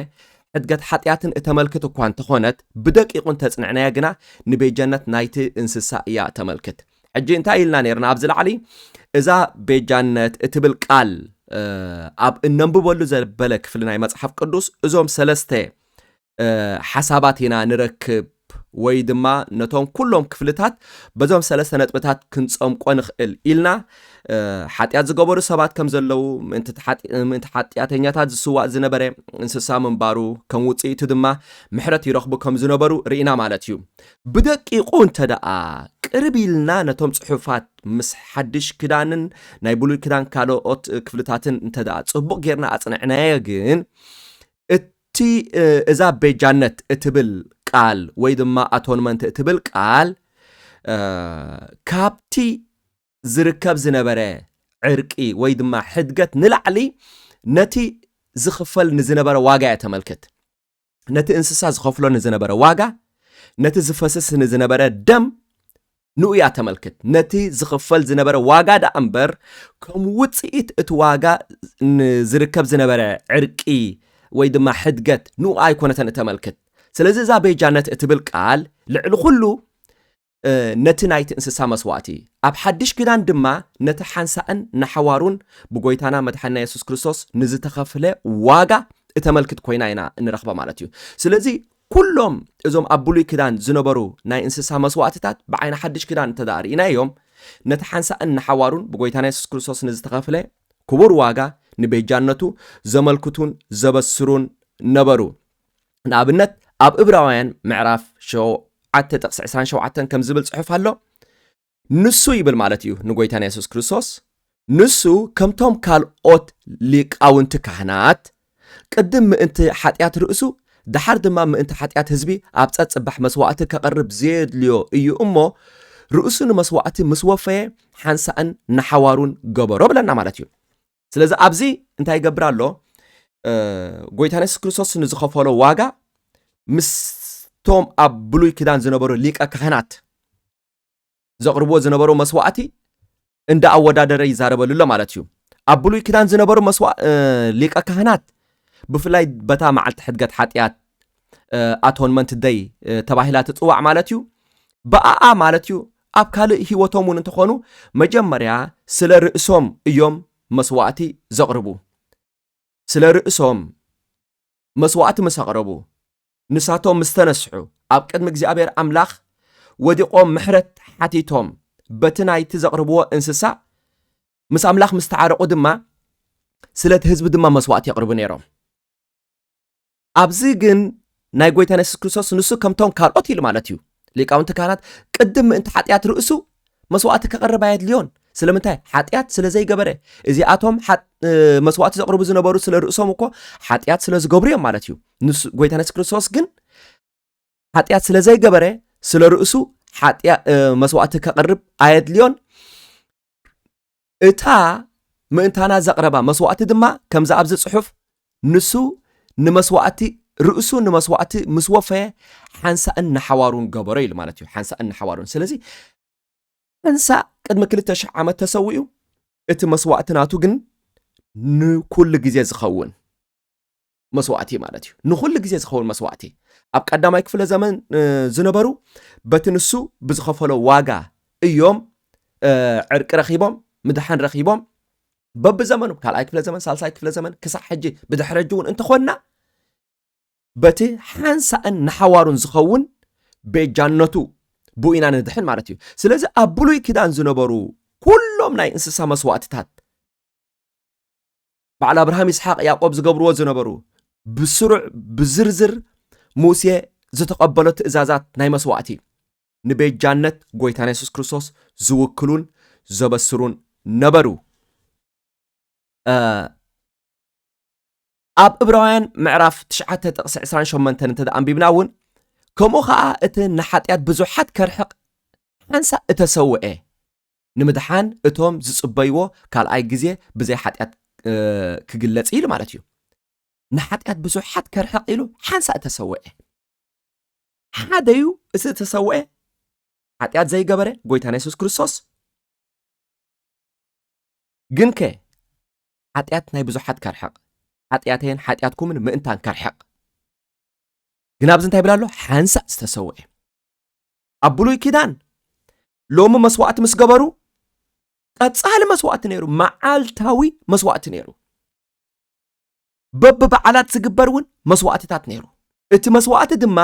ሕድገት ሓጢኣትን እተመልክት እኳ እንተኾነት ብደቂቑ እንተጽንዕናያ ግና ንቤጃነት ናይቲ እንስሳ እያ እተመልክት። ሕጂ እንታይ ኢልና ነርና ኣብዚ ላዕሊ እዛ ቤጃነት እትብል ቃል ኣብ እነንብበሉ ዘበለ ክፍሊ ናይ መጽሓፍ ቅዱስ እዞም ሰለስተ ሓሳባት ኢና ንረክብ ወይ ድማ ነቶም ኩሎም ክፍልታት በዞም ሰለስተ ነጥብታት ክንፀምቆ ንኽእል ኢልና ሓጢኣት ዝገበሩ ሰባት ከም ዘለዉ ምእንቲ ሓጢኣተኛታት ዝስዋእ ዝነበረ እንስሳ ምንባሩ ከም ውፅኢቱ ድማ ምሕረት ይረኽቡ ከም ዝነበሩ ርኢና ማለት እዩ ብደቂቑ እንተ ደኣ ቅርብ ኢልና ነቶም ፅሑፋት ምስ ሓድሽ ክዳንን ናይ ብሉይ ክዳን ካልኦት ክፍልታትን እንተ ደኣ ፅቡቕ ጌርና ኣፅንዕናዮ ግን እቲ እዛ ቤጃነት እትብል ቃል ወይ ድማ ኣቶንመንት እትብል ቃል ካብቲ ዝርከብ ዝነበረ ዕርቂ ወይ ድማ ሕድገት ንላዕሊ ነቲ ዝኽፈል ንዝነበረ ዋጋ እያ ተመልክት ነቲ እንስሳ ዝኸፍሎ ንዝነበረ ዋጋ ነቲ ዝፈስስ ንዝነበረ ደም ንኡያ ተመልክት። ነቲ ዝኽፈል ዝነበረ ዋጋ ደኣ እምበር ከም ውጽኢት እቲ ዋጋ ንዝርከብ ዝነበረ ዕርቂ ወይ ድማ ሕድገት ንኡ ኣይኮነተን እተመልክት። ስለዚ እዛ ቤጃነት እትብል ቃል ልዕሊ ኩሉ ነቲ ናይቲ እንስሳ መስዋእቲ ኣብ ሓድሽ ኪዳን ድማ ነቲ ሓንሳእን ንሓዋሩን ብጎይታና መድሓና የሱስ ክርስቶስ ንዝተኸፍለ ዋጋ እተመልክት ኮይና ኢና እንረኽባ ማለት እዩ። ስለዚ ኩሎም እዞም ኣብ ብሉይ ክዳን ዝነበሩ ናይ እንስሳ መስዋእትታት ብዓይኒ ሓድሽ ክዳን እንተደኣ ርኢናዮም ነቲ ሓንሳእን ንሓዋሩን ብጎይታና የሱስ ክርስቶስ ንዝተኸፍለ ክቡር ዋጋ ንቤጃነቱ ዘመልክቱን ዘበስሩን ነበሩ። ንኣብነት ኣብ እብራውያን ምዕራፍ ሸውዓተ ጥቕሲ ዕስራን ሸውዓተን ከምዚ ዝብል ጽሑፍ ኣሎ ንሱ ይብል ማለት እዩ ንጎይታና የሱስ ክርስቶስ ንሱ ከምቶም ካልኦት ሊቃውንቲ ካህናት ቅድም ምእንቲ ሓጢኣት ርእሱ ድሓር ድማ ምእንቲ ሓጢኣት ህዝቢ ኣብ ጸጽባሕ መስዋእቲ ከቕርብ ዘየድልዮ እዩ እሞ ርእሱ ንመስዋእቲ ምስ ወፈየ ሓንሳእን ንሓዋሩን ገበሮ ብለና ማለት እዩ ስለዚ ኣብዚ እንታይ ይገብር ኣሎ ጎይታ የሱስ ክርስቶስ ንዝኸፈሎ ዋጋ ምስቶም ኣብ ብሉይ ኪዳን ዝነበሩ ሊቀ ካህናት ዘቕርብዎ ዝነበሩ መስዋዕቲ እንዳ ኣወዳደረ ይዛረበሉ ኣሎ ማለት እዩ ኣብ ብሉይ ኪዳን ዝነበሩ ሊቀ ካህናት ብፍላይ በታ መዓልቲ ሕድገት ሓጢኣት ኣቶንመንት ደይ ተባሂላ ትፅዋዕ ማለት እዩ ብኣኣ ማለት እዩ ኣብ ካልእ ህይወቶም እውን እንተኾኑ መጀመርያ ስለ ርእሶም እዮም መስዋእቲ ዘቕርቡ ስለ ርእሶም መስዋእቲ ምስ ኣቕረቡ ንሳቶም ምስ ተነስሑ ኣብ ቅድሚ እግዚኣብሔር ኣምላኽ ወዲቖም ምሕረት ሓቲቶም በቲ ናይቲ ዘቕርብዎ እንስሳ ምስ ኣምላኽ ምስ ተዓረቑ ድማ ስለቲ ህዝቢ ድማ መስዋዕቲ የቕርቡ ነይሮም ኣብዚ ግን ናይ ጎይታን የሱስ ክርስቶስ ንሱ ከምቶም ካልኦት ኢሉ ማለት እዩ ሊቃውንቲ ካህናት ቅድም ምእንቲ ሓጢኣት ርእሱ መስዋእቲ ከቕርብ ኣየድልዮን ስለምንታይ ሓጢኣት ስለ ዘይገበረ እዚኣቶም መስዋእቲ ዘቕርቡ ዝነበሩ ስለ ርእሶም እኮ ሓጢኣት ስለ ዝገብሩ እዮም ማለት እዩ ጎይታ ነስ ክርስቶስ ግን ሓጢኣት ስለ ዘይገበረ ስለ ርእሱ መስዋእቲ ከቕርብ ኣየድልዮን እታ ምእንታና ዘቕረባ መስዋእቲ ድማ ከምዛ ኣብዚ ጽሑፍ ንሱ ንመስዋእቲ ርእሱ ንመስዋእቲ ምስ ወፈየ ሓንሳእን ንሓዋሩን ገበሮ ኢሉ ማለት እዩ ሓንሳእን ንሓዋሩን ስለዚ ሓንሳእ ቅድሚ ክልተ ሽሕ ዓመት ተሰዊኡ እቲ መስዋእቲ ናቱ ግን ንኩሉ ግዜ ዝኸውን መስዋእቲ ማለት እዩ። ንኹሉ ግዜ ዝኸውን መስዋእቲ ኣብ ቀዳማይ ክፍለ ዘመን ዝነበሩ በቲ ንሱ ብዝኸፈሎ ዋጋ እዮም ዕርቂ ረኺቦም ምድሓን ረኺቦም በብዘመኑ ካልኣይ ክፍለ ዘመን ሳልሳይ ክፍለ ዘመን ክሳዕ ሕጂ ብድሕሪ ሕጂ እውን እንተኾንና በቲ ሓንሳእን ንሓዋሩን ዝኸውን ቤጃነቱ ብኡ ኢና ንድሕን ማለት እዩ ስለዚ ኣብ ብሉይ ኪዳን ዝነበሩ ኩሎም ናይ እንስሳ መስዋእትታት በዓል ኣብርሃም ይስሓቅ ያዕቆብ ዝገብርዎ ዝነበሩ ብስሩዕ ብዝርዝር ሙሴ ዝተቐበሎ ትእዛዛት ናይ መስዋእቲ ንቤጃነት ጎይታና የሱስ ክርስቶስ ዝውክሉን ዘበስሩን ነበሩ ኣብ እብራውያን ምዕራፍ 9 ጥቕሲ 28 እንተ ኣንቢብና እውን ከምኡ ከዓ እቲ ንሓጢኣት ብዙሓት ከርሕቕ ሓንሳ እተሰውአ ንምድሓን እቶም ዝጽበይዎ ካልኣይ ግዜ ብዘይ ሓጢኣት ክግለጽ ኢሉ ማለት እዩ ንሓጢኣት ብዙሓት ከርሕቕ ኢሉ ሓንሳእ ተሰውዐ ሓደ እዩ እቲ እተሰውዐ ሓጢኣት ዘይገበረ ጎይታና የሱስ ክርስቶስ ግን ከ ሓጢኣት ናይ ብዙሓት ከርሕቕ ሓጢኣተይን ሓጢኣትኩምን ምእንታን ከርሕቕ ግን ኣብዚ እንታይ ይብል ኣሎ ሓንሳእ ዝተሰውዐ ኣብ ብሉይ ኪዳን ሎሚ መስዋእቲ ምስ ገበሩ ቀጻሊ መስዋእቲ ነይሩ መዓልታዊ መስዋእቲ ነይሩ በብበዓላት ዝግበር እውን መስዋእትታት ነይሩ እቲ መስዋእቲ ድማ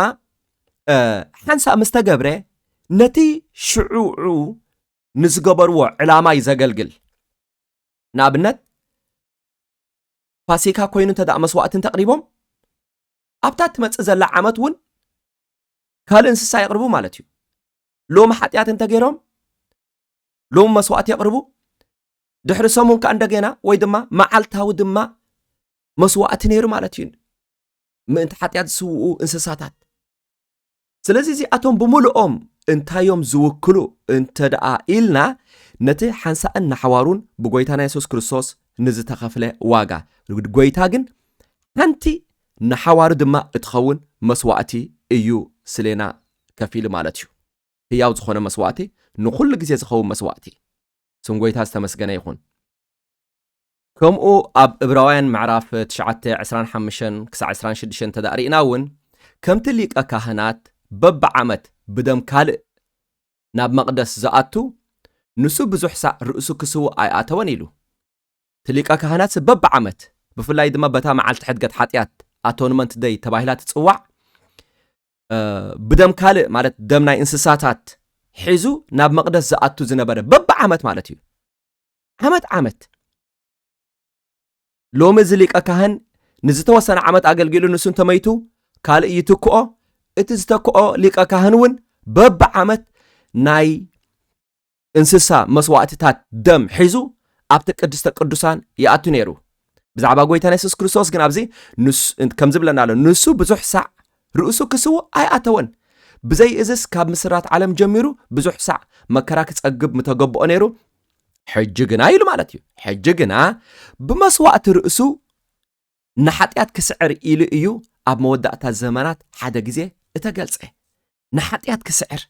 ሓንሳእ ምስ ተገብረ ነቲ ሽዑዑ ንዝገበርዎ ዕላማ እዩ ዘገልግል ንኣብነት ፋሲካ ኮይኑ እንተ መስዋእቲ እንተቕሪቦም ኣብታ እትመፅእ ዘላ ዓመት እውን ካልእ እንስሳ የቕርቡ ማለት እዩ ሎሚ ሓጢኣት እንተገይሮም ሎሚ መስዋእቲ የቕርቡ ድሕሪ ሰሙን ከዓ እንደገና ወይ ድማ መዓልታዊ ድማ መስዋእቲ ነይሩ ማለት እዩ ምእንቲ ሓጢኣት ዝስውኡ እንስሳታት ስለዚ እዚኣቶም ብምልኦም እንታዮም ዝውክሉ እንተ ደኣ ኢልና ነቲ ሓንሳእን ንሓዋሩን ብጎይታና የሱስ ክርስቶስ ንዝተኸፍለ ዋጋ ጎይታ ግን ሓንቲ ንሓዋሩ ድማ እትኸውን መስዋእቲ እዩ ስሌና ከፊሉ ማለት እዩ። ህያው ዝኾነ መስዋእቲ ንኹሉ ግዜ ዝኸውን መስዋእቲ። ስም ጎይታ ዝተመስገነ ይኹን። ከምኡ ኣብ እብራውያን ምዕራፍ ትሽዓተ ዕስራን ሓምሽተን ክሳዕ ዕስራን ሽዱሽተን እንተ ርኢና እውን ከምቲ ሊቀ ካህናት በብዓመት ብደም ካልእ ናብ መቕደስ ዝኣቱ ንሱ ብዙሕ ሳዕ ርእሱ ክስውእ ኣይኣተወን ኢሉ እቲ ሊቀ ካህናት በብዓመት ብፍላይ ድማ በታ መዓልቲ ሕድገት ሓጢኣት ኣቶንመንት ደይ ተባሂላ ትፅዋዕ ብደም ካልእ ማለት ደም ናይ እንስሳታት ሒዙ ናብ መቕደስ ዝኣቱ ዝነበረ በብዓመት ማለት እዩ ዓመት ዓመት ሎሚ እዚ ሊቀ ካህን ንዝተወሰነ ዓመት ኣገልጊሉ ንሱ እንተመይቱ ካልእ ይትክኦ እቲ ዝተክኦ ሊቀ ካህን እውን በብዓመት ናይ እንስሳ መስዋእትታት ደም ሒዙ ኣብቲ ቅድስተ ቅዱሳን ይኣቱ ነይሩ። ብዛዕባ ጎይታና የሱስ ክርስቶስ ግን ኣብዚ ከም ዝብለና ኣሎ ንሱ ብዙሕ ሳዕ ርእሱ ክስውእ ኣይኣተወን። ብዘይ እዝስ ካብ ምስራት ዓለም ጀሚሩ ብዙሕ ሳዕ መከራ ክጸግብ ምተገብኦ ነይሩ። ሕጂ ግና ኢሉ ማለት እዩ ሕጂ ግና ብመስዋእቲ ርእሱ ንሓጢኣት ክስዕር ኢሉ እዩ ኣብ መወዳእታ ዘመናት ሓደ ግዜ እተገልጸ ንሓጢኣት ክስዕር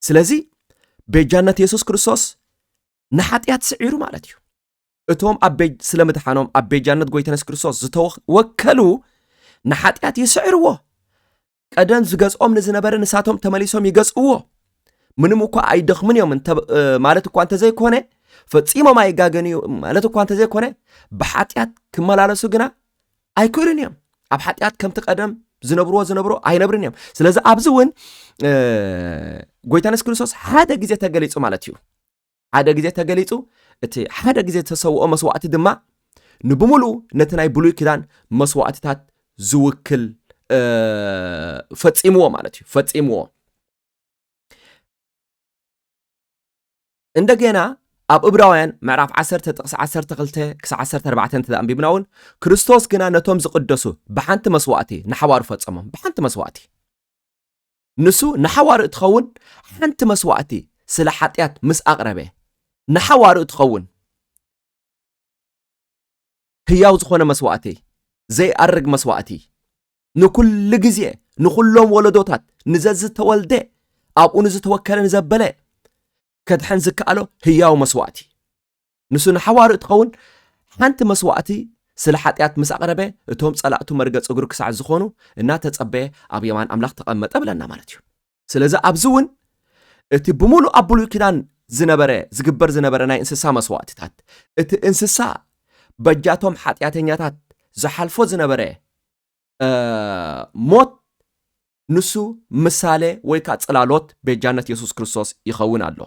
ስለዚ ቤጃነት የሱስ ክርስቶስ ንሓጢኣት ስዒሩ ማለት እዩ እቶም ስለ ምድሓኖም ኣብ ቤጃነት ጎይታ የሱስ ክርስቶስ ዝተወከሉ ንሓጢኣት ይስዕርዎ ቀደም ዝገዝኦም ንዝነበረ ንሳቶም ተመሊሶም ይገዝእዎ ምንም እኳ ኣይደኽምን እዮም ማለት እኳ እንተዘይኮነ ፈፂሞም ኣይጋገን እዩ ማለት እኳ እንተዘይኮነ ብሓጢኣት ክመላለሱ ግና ኣይክእሉን እዮም ኣብ ሓጢኣት ከምቲ ቀደም ዝነብርዎ ዝነብሮ ኣይነብርን እዮም ስለዚ ኣብዚ እውን ጎይታ ንስ ክርስቶስ ሓደ ግዜ ተገሊፁ ማለት እዩ ሓደ ግዜ ተገሊፁ እቲ ሓደ ግዜ ዝተሰውኦ መስዋእቲ ድማ ንብምሉኡ ነቲ ናይ ብሉይ ክዳን መስዋእትታት ዝውክል ፈፂምዎ ማለት እዩ ፈፂምዎ እንደገና ኣብ እብራውያን ምዕራፍ 10 ጥቕሲ 12 ክሳዕ 14 እንተ ኣንቢብና እውን ክርስቶስ ግና ነቶም ዝቕደሱ ብሓንቲ መስዋእቲ ንሓዋሩ ፈጸሞም ብሓንቲ መስዋእቲ ንሱ ንሓዋሩ እትኸውን ሓንቲ መስዋእቲ ስለ ሓጢኣት ምስ ኣቕረበ ንሓዋሩ እትኸውን ህያው ዝኾነ መስዋእቲ ዘይኣርግ መስዋእቲ ንኩሉ ግዜ ንኹሎም ወለዶታት ንዘዝተወልደ ኣብኡ ንዝተወከለ ንዘበለ ከድሕን ዝከኣሎ ህያው መስዋእቲ ንሱ ንሓዋሩ እትኸውን ሓንቲ መስዋእቲ ስለ ሓጢኣት ምስ ኣቕረበ እቶም ጸላእቱ መርገጽ እግሩ ክሳዕ ዝኾኑ እናተጸበየ ኣብ የማን ኣምላኽ ተቐመጠ ብለና ማለት እዩ ስለዚ ኣብዚ እውን እቲ ብምሉእ ኣብ ብሉይ ኪዳን ዝነበረ ዝግበር ዝነበረ ናይ እንስሳ መስዋእትታት እቲ እንስሳ በጃቶም ሓጢኣተኛታት ዝሓልፎ ዝነበረ ሞት ንሱ ምሳሌ ወይ ከዓ ጽላሎት ቤጃነት የሱስ ክርስቶስ ይኸውን ኣሎ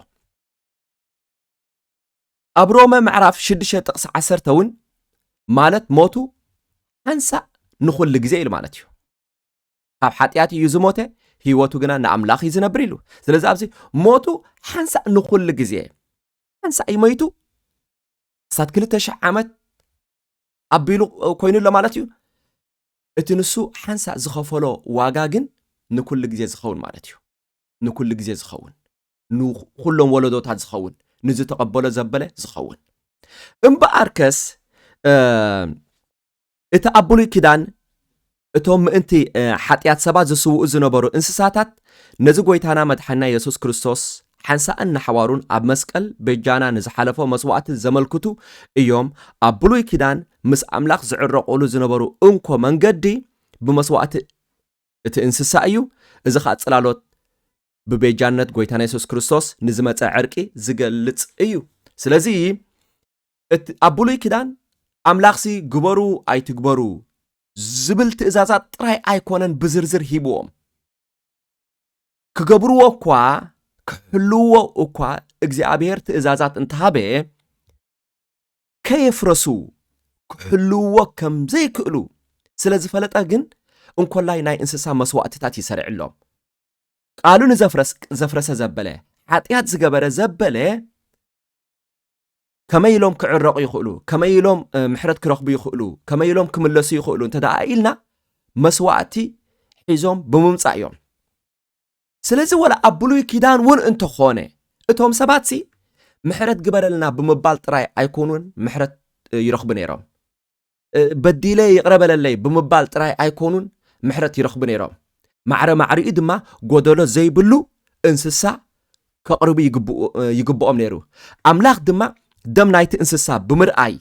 ኣብ ሮመ ምዕራፍ 6 ጥቕሲ 10 እውን ማለት ሞቱ ሓንሳእ ንኹሉ ግዜ ኢሉ ማለት እዩ ካብ ሓጢኣት እዩ ዝሞተ ህይወቱ ግና ንኣምላኽ እዩ ዝነብር ኢሉ ስለዚ ኣብዚ ሞቱ ሓንሳእ ንኹሉ ግዜ ሓንሳእ እዩ መይቱ ክሳብ ክልተ ሽሕ ዓመት ኣቢሉ ኮይኑ ኣሎ ማለት እዩ እቲ ንሱ ሓንሳእ ዝኸፈሎ ዋጋ ግን ንኩሉ ግዜ ዝኸውን ማለት እዩ ንኩሉ ግዜ ዝኸውን ንኩሎም ወለዶታት ዝኸውን ንዝተቐበሎ ዘበለ ዝኸውን እምበኣርከስ እቲ ኣብ ብሉይ ኪዳን እቶም ምእንቲ ሓጢኣት ሰባት ዝስውኡ ዝነበሩ እንስሳታት ነዚ ጎይታና መድሓኒና የሱስ ክርስቶስ ሓንሳእን ንሓዋሩን ኣብ መስቀል በጃና ንዝሓለፎ መስዋእቲ ዘመልክቱ እዮም ኣብ ብሉይ ኪዳን ምስ ኣምላኽ ዝዕረቑሉ ዝነበሩ እንኮ መንገዲ ብመስዋእቲ እቲ እንስሳ እዩ እዚ ከዓ ጽላሎት ብቤጃነት ጎይታና የሱስ ክርስቶስ ንዝመፀ ዕርቂ ዝገልጽ እዩ ስለዚ እቲ ኣብ ብሉይ ኪዳን ኣምላኽሲ ግበሩ ኣይትግበሩ ዝብል ትእዛዛት ጥራይ ኣይኮነን ብዝርዝር ሂብዎም ክገብርዎ እኳ ክሕልውዎ እኳ እግዚኣብሔር ትእዛዛት እንተሃበ ከየፍረሱ ክሕልውዎ ከም ዘይክእሉ ስለ ዝፈለጠ ግን እንኮላይ ናይ እንስሳ መስዋእትታት ይሰርዕሎም ቃሉ ንዘፍረሰ ዘበለ ሓጢኣት ዝገበረ ዘበለ ከመይ ኢሎም ክዕረቑ ይኽእሉ፣ ከመይ ኢሎም ምሕረት ክረኽቡ ይኽእሉ፣ ከመይ ኢሎም ክምለሱ ይኽእሉ እንተ ደኣ ኢልና መስዋእቲ ሒዞም ብምምጻእ እዮም ስለዚ ወላ ኣብ ብሉይ ኪዳን እውን እንተኾነ እቶም ሰባት ሲ ምሕረት ግበረልና ብምባል ጥራይ ኣይኮኑን ምሕረት ይረኽቡ ነይሮም በዲለ ይቕረ በለለይ ብምባል ጥራይ ኣይኮኑን ምሕረት ይረኽቡ ነይሮም። ማዕረ ማዕሪኡ ድማ ጎደሎ ዘይብሉ እንስሳ ከቕርቡ ይግብኦም ነይሩ። ኣምላኽ ድማ ደም ናይቲ እንስሳ ብምርኣይ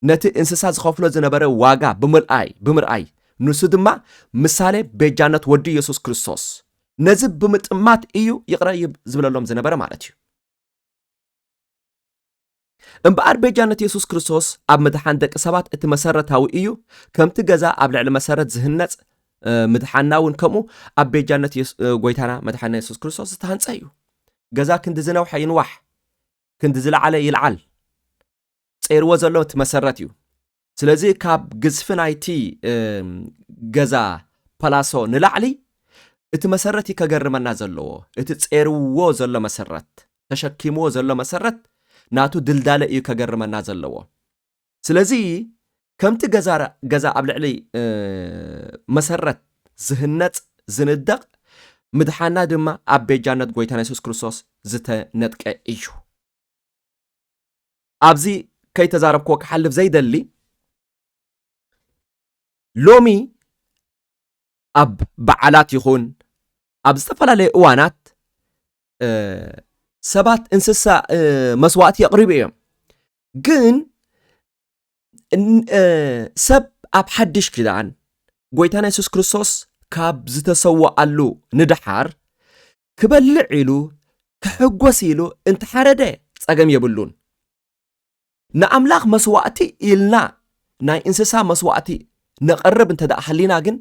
ነቲ እንስሳ ዝኸፍሎ ዝነበረ ዋጋ ብምርኣይ ብምርኣይ ንሱ ድማ ምሳሌ ቤጃነት ወዲ ኢየሱስ ክርስቶስ ነዚ ብምጥማት እዩ ይቕረ ዝብለሎም ዝነበረ ማለት እዩ። እምበኣር ቤጃነት የሱስ ክርስቶስ ኣብ ምድሓን ደቂ ሰባት እቲ መሰረታዊ እዩ፣ ከምቲ ገዛ ኣብ ልዕሊ መሰረት ዝህነጽ ምድሓንና እውን ከምኡ ኣብ ቤጃነት ጎይታና መድሓንና የሱስ ክርስቶስ ዝተሃንጸ እዩ። ገዛ ክንዲ ዝነውሐ ይንዋሕ ክንዲ ዝለዓለ ይልዓል ጸይርዎ ዘሎ እቲ መሰረት እዩ። ስለዚ ካብ ግዝፊ ናይቲ ገዛ ፓላሶ ንላዕሊ እቲ መሰረት እዩ ከገርመና ዘለዎ እቲ ጼርዎ ዘሎ መሰረት ተሸኪምዎ ዘሎ መሰረት ናቱ ድልዳለ እዩ ከገርመና ዘለዎ ስለዚ ከምቲ ገዛ ኣብ ልዕሊ መሰረት ዝህነፅ ዝንደቕ ምድሓና ድማ ኣብ ቤጃነት ጎይታና የሱስ ክርስቶስ ዝተነጥቀ እዩ ኣብዚ ከይተዛረብክዎ ክሓልፍ ዘይደሊ ሎሚ ኣብ በዓላት ይኹን ኣብ ዝተፈላለየ እዋናት ሰባት እንስሳ መስዋእቲ የቕርቡ እዮም ግን ሰብ ኣብ ሓድሽ ኪዳን ጎይታና የሱስ ክርስቶስ ካብ ዝተሰዋኣሉ ንደሓር ክበልዕ ኢሉ ክሕጎስ ኢሉ እንተ ሓረደ ጸገም የብሉን። ንኣምላኽ መስዋእቲ ኢልና ናይ እንስሳ መስዋእቲ ነቕርብ እንተ ደኣ ሃሊና ግን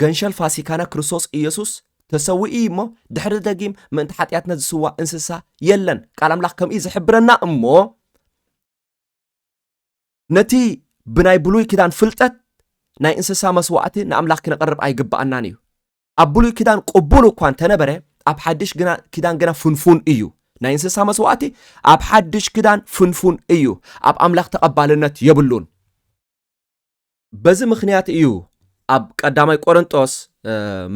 ገንሸል ፋሲካና ክርስቶስ ኢየሱስ ተሰዊኡ እዩ እሞ ድሕሪ ደጊም ምእንቲ ሓጢኣትና ዝስዋእ እንስሳ የለን። ቃል ኣምላኽ ከምኡ እዩ ዝሕብረና እሞ ነቲ ብናይ ብሉይ ኪዳን ፍልጠት ናይ እንስሳ መስዋእቲ ንኣምላኽ ክነቕርብ ኣይግብኣናን እዩ። ኣብ ብሉይ ኪዳን ቅቡል እኳ እንተነበረ ኣብ ሓድሽ ኪዳን ግና ፍንፉን እዩ። ናይ እንስሳ መስዋእቲ ኣብ ሓድሽ ኪዳን ፍንፉን እዩ፣ ኣብ ኣምላኽ ተቐባልነት የብሉን። በዚ ምክንያት እዩ ኣብ ቀዳማይ ቆረንጦስ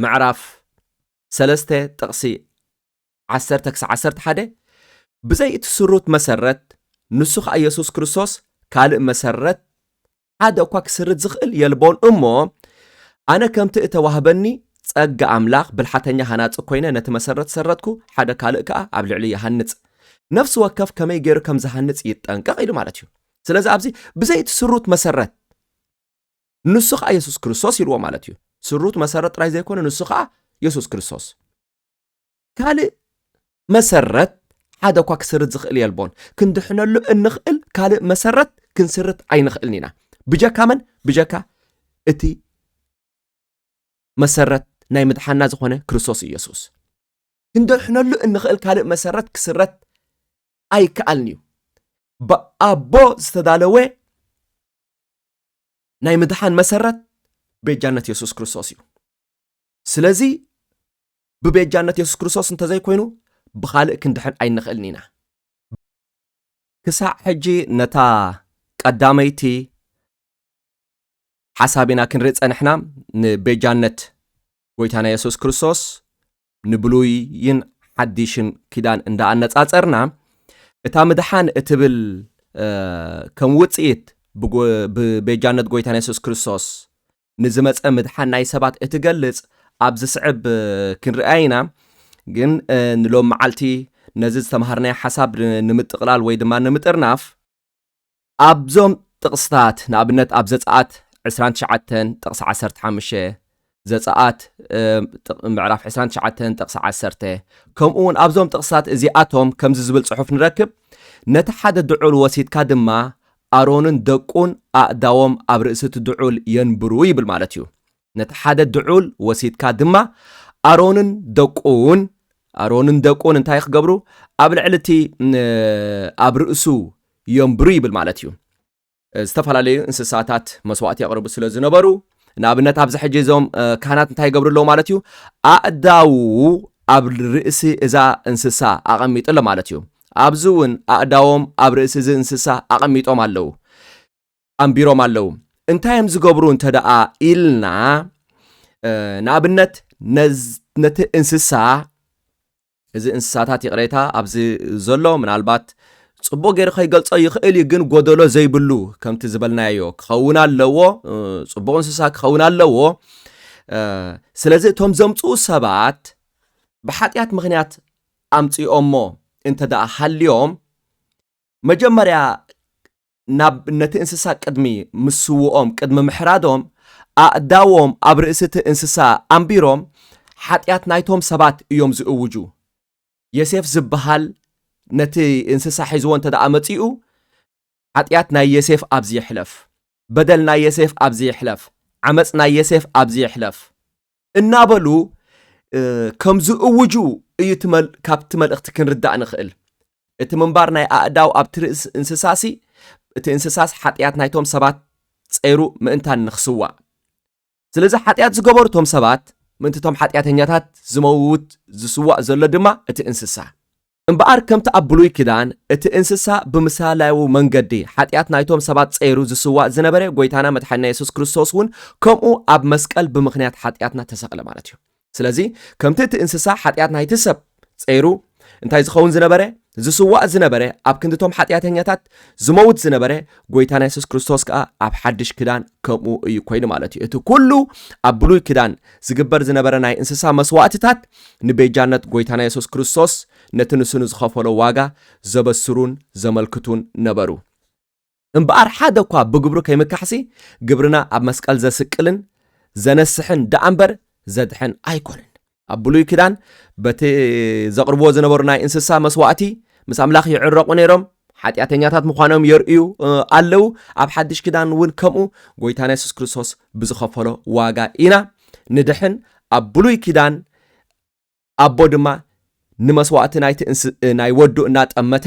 ምዕራፍ ሰለስተ ጥቕሲ ዓሰርተ ክሳዕ ዓሰርተ ሓደ ብዘይ እቲ ስሩት መሰረት ንሱ ከዓ ኢየሱስ ክርስቶስ ካልእ መሰረት ሓደ እኳ ክስርት ዝኽእል የልቦን እሞ ኣነ ከምቲ እተዋህበኒ ጸጋ ኣምላኽ ብልሓተኛ ሃናጺ ኰይነ ነቲ መሰረት ሰረትኩ፣ ሓደ ካልእ ከኣ ኣብ ልዕሊኡ ይሃንጽ። ነፍሲ ወከፍ ከመይ ገይሩ ከም ዝሃንጽ ይጠንቀቕ ኢሉ ማለት እዩ። ስለዚ ኣብዚ ብዘይ እቲ ስሩት መሰረት ንሱ ከኣ የሱስ ክርስቶስ ኢልዎ ማለት እዩ። ስሩት መሰረት ጥራይ ዘይኮነ ንሱ ከኣ የሱስ ክርስቶስ። ካልእ መሰረት ሓደ እኳ ክስርት ዝኽእል የልቦን። ክንድሕነሉ እንኽእል ካልእ መሰረት ክንስርት ኣይንኽእልን ኢና። ብጀካ መን? ብጀካ እቲ መሰረት ናይ ምድሓና ዝኾነ ክርስቶስ ኢየሱስ ክንድሕነሉ እንኽእል ካልእ መሰረት ክስረት ኣይከኣልን እዩ ብኣቦ ዝተዳለወ ናይ ምድሓን መሰረት ቤጃነት የሱስ ክርስቶስ እዩ ስለዚ ብቤጃነት የሱስ ክርስቶስ እንተዘይኮይኑ ብኻልእ ክንድሕን ኣይንኽእልን ኢና። ክሳዕ ሕጂ ነታ ቀዳመይቲ ሓሳብ ኢና ክንርኢ ጸንሕና፣ ንቤጃነት ጎይታና የሱስ ክርስቶስ ንብሉይን ሓዲሽን ኪዳን እንዳ ኣነጻጸርና እታ ምድሓን እትብል ከም ውጽኢት ብቤጃነት ጎይታና የሱስ ክርስቶስ ንዝመጸ ምድሓን ናይ ሰባት እትገልጽ ኣብ ዝስዕብ ክንርኣያ ኢና። ግን ንሎም መዓልቲ ነዚ ዝተምሃርናዮ ሓሳብ ንምጥቕላል ወይ ድማ ንምጥርናፍ፣ ኣብዞም ጥቕስታት ንኣብነት ኣብ ዘጸኣት ዕስራን ትሽዓተን ጥቕሲ ዓሰርተ ሓሙሽተ፣ ዘጸኣት ምዕራፍ ዕስራን ትሽዓተን ጥቕሲ ዓሰርተ፣ ከምኡውን ኣብዞም ጥቕስታት እዚኣቶም ከምዚ ዝብል ጽሑፍ ንረክብ፣ ነቲ ሓደ ድዑል ወሲድካ ድማ ኣሮንን ደቁን ኣእዳዎም ኣብ ርእሲ እቲ ድዑል የንብሩ ይብል ማለት እዩ። ነቲ ሓደ ድዑል ወሲድካ ድማ ኣሮንን ደቁን ኣሮንን ደቁን እንታይ ክገብሩ ኣብ ልዕሊ እቲ ኣብ ርእሱ የንብሩ ይብል ማለት እዩ። ዝተፈላለዩ እንስሳታት መስዋእቲ የቕርቡ ስለ ዝነበሩ ንኣብነት ኣብዚ ሕጂ እዞም ካህናት እንታይ ይገብሩ ኣለዉ ማለት እዩ ኣእዳዉ ኣብ ርእሲ እዛ እንስሳ ኣቐሚጡ ኣሎ ማለት እዩ ኣብዚ እውን ኣእዳዎም ኣብ ርእሲ እዚ እንስሳ ኣቐሚጦም ኣለዉ፣ ኣንቢሮም ኣለዉ። እንታይ እዮም ዝገብሩ እንተ ደኣ ኢልና፣ ንኣብነት ነቲ እንስሳ እዚ እንስሳታት ይቕሬታ ኣብዚ ዘሎ ምናልባት ጽቡቕ ገይሩ ከይገልጾ ይኽእል እዩ ግን ጎደሎ ዘይብሉ ከምቲ ዝበልናዮ ክኸውን ኣለዎ ጽቡቕ እንስሳ ክኸውን ኣለዎ ስለዚ እቶም ዘምፅኡ ሰባት ብሓጢኣት ምክንያት ኣምጺኦሞ እንተ ደኣ ሃልዮም፣ መጀመርያ ናብ ነቲ እንስሳ ቅድሚ ምስውኦም፣ ቅድሚ ምሕራዶም፣ ኣእዳዎም ኣብ ርእሲ'ቲ እንስሳ ኣንቢሮም ሓጢኣት ናይቶም ሰባት እዮም ዝእውጁ። የሴፍ ዝበሃል ነቲ እንስሳ ሒዝዎ እንተ ደኣ መጺኡ፣ ሓጢኣት ናይ የሴፍ ኣብዚ ይሕለፍ፣ በደል ናይ የሴፍ ኣብዚ ይሕለፍ፣ ዓመጽ ናይ የሴፍ ኣብዚ ይሕለፍ። እናበሉ ከም ዝእውጁ እዩ ካብቲ መልእኽቲ ክንርዳእ ንኽእል እቲ ምንባር ናይ ኣእዳው ኣብቲ ርእሲ እንስሳሲ እቲ እንስሳስ ሓጢኣት ናይቶም ሰባት ጸይሩ ምእንታን ንኽስዋእ ስለዚ ሓጢኣት ዝገበሩ እቶም ሰባት ምእንቲ እቶም ሓጢኣተኛታት ዝመውት ዝስዋእ ዘሎ ድማ እቲ እንስሳ እምበኣር ከምቲ ኣብ ብሉይ ኪዳን እቲ እንስሳ ብምሳልያዊ መንገዲ ሓጢኣት ናይቶም ሰባት ጸይሩ ዝስዋእ ዝነበረ ጎይታና መድሓኒና የሱስ ክርስቶስ ውን ከምኡ ኣብ መስቀል ብምኽንያት ሓጢኣትና ተሰቕለ ማለት እዩ ስለዚ ከምቲ እቲ እንስሳ ሓጢኣት ናይቲ ሰብ ጸይሩ እንታይ ዝኸውን ዝነበረ ዝስዋእ ዝነበረ ኣብ ክንዲቶም ሓጢኣተኛታት ዝመውት ዝነበረ ጎይታና የሱስ ክርስቶስ ከዓ ኣብ ሓድሽ ክዳን ከምኡ እዩ ኮይኑ ማለት እዩ እቲ ኩሉ ኣብ ብሉይ ክዳን ዝግበር ዝነበረ ናይ እንስሳ መስዋእትታት ንቤጃነት ጐይታና የሱስ ክርስቶስ ነቲ ንሱ ንዝኸፈሎ ዋጋ ዘበስሩን ዘመልክቱን ነበሩ። እምበኣር ሓደ እኳ ብግብሩ ከይምካሕሲ ግብርና ኣብ መስቀል ዘስቅልን ዘነስሕን ደኣ እምበር ዘድሕን ኣይኮነን። ኣብ ብሉይ ኪዳን በቲ ዘቕርብዎ ዝነበሩ ናይ እንስሳ መስዋእቲ ምስ ኣምላኽ ይዕረቑ ነይሮም። ሓጢኣተኛታት ምዃኖም የርእዩ ኣለዉ። ኣብ ሓድሽ ኪዳን እውን ከምኡ ጎይታና የሱስ ክርስቶስ ብዝኸፈሎ ዋጋ ኢና ንድሕን። ኣብ ብሉይ ኪዳን ኣቦ ድማ ንመስዋእቲ ናይቲ ናይ ወዱ እናጠመተ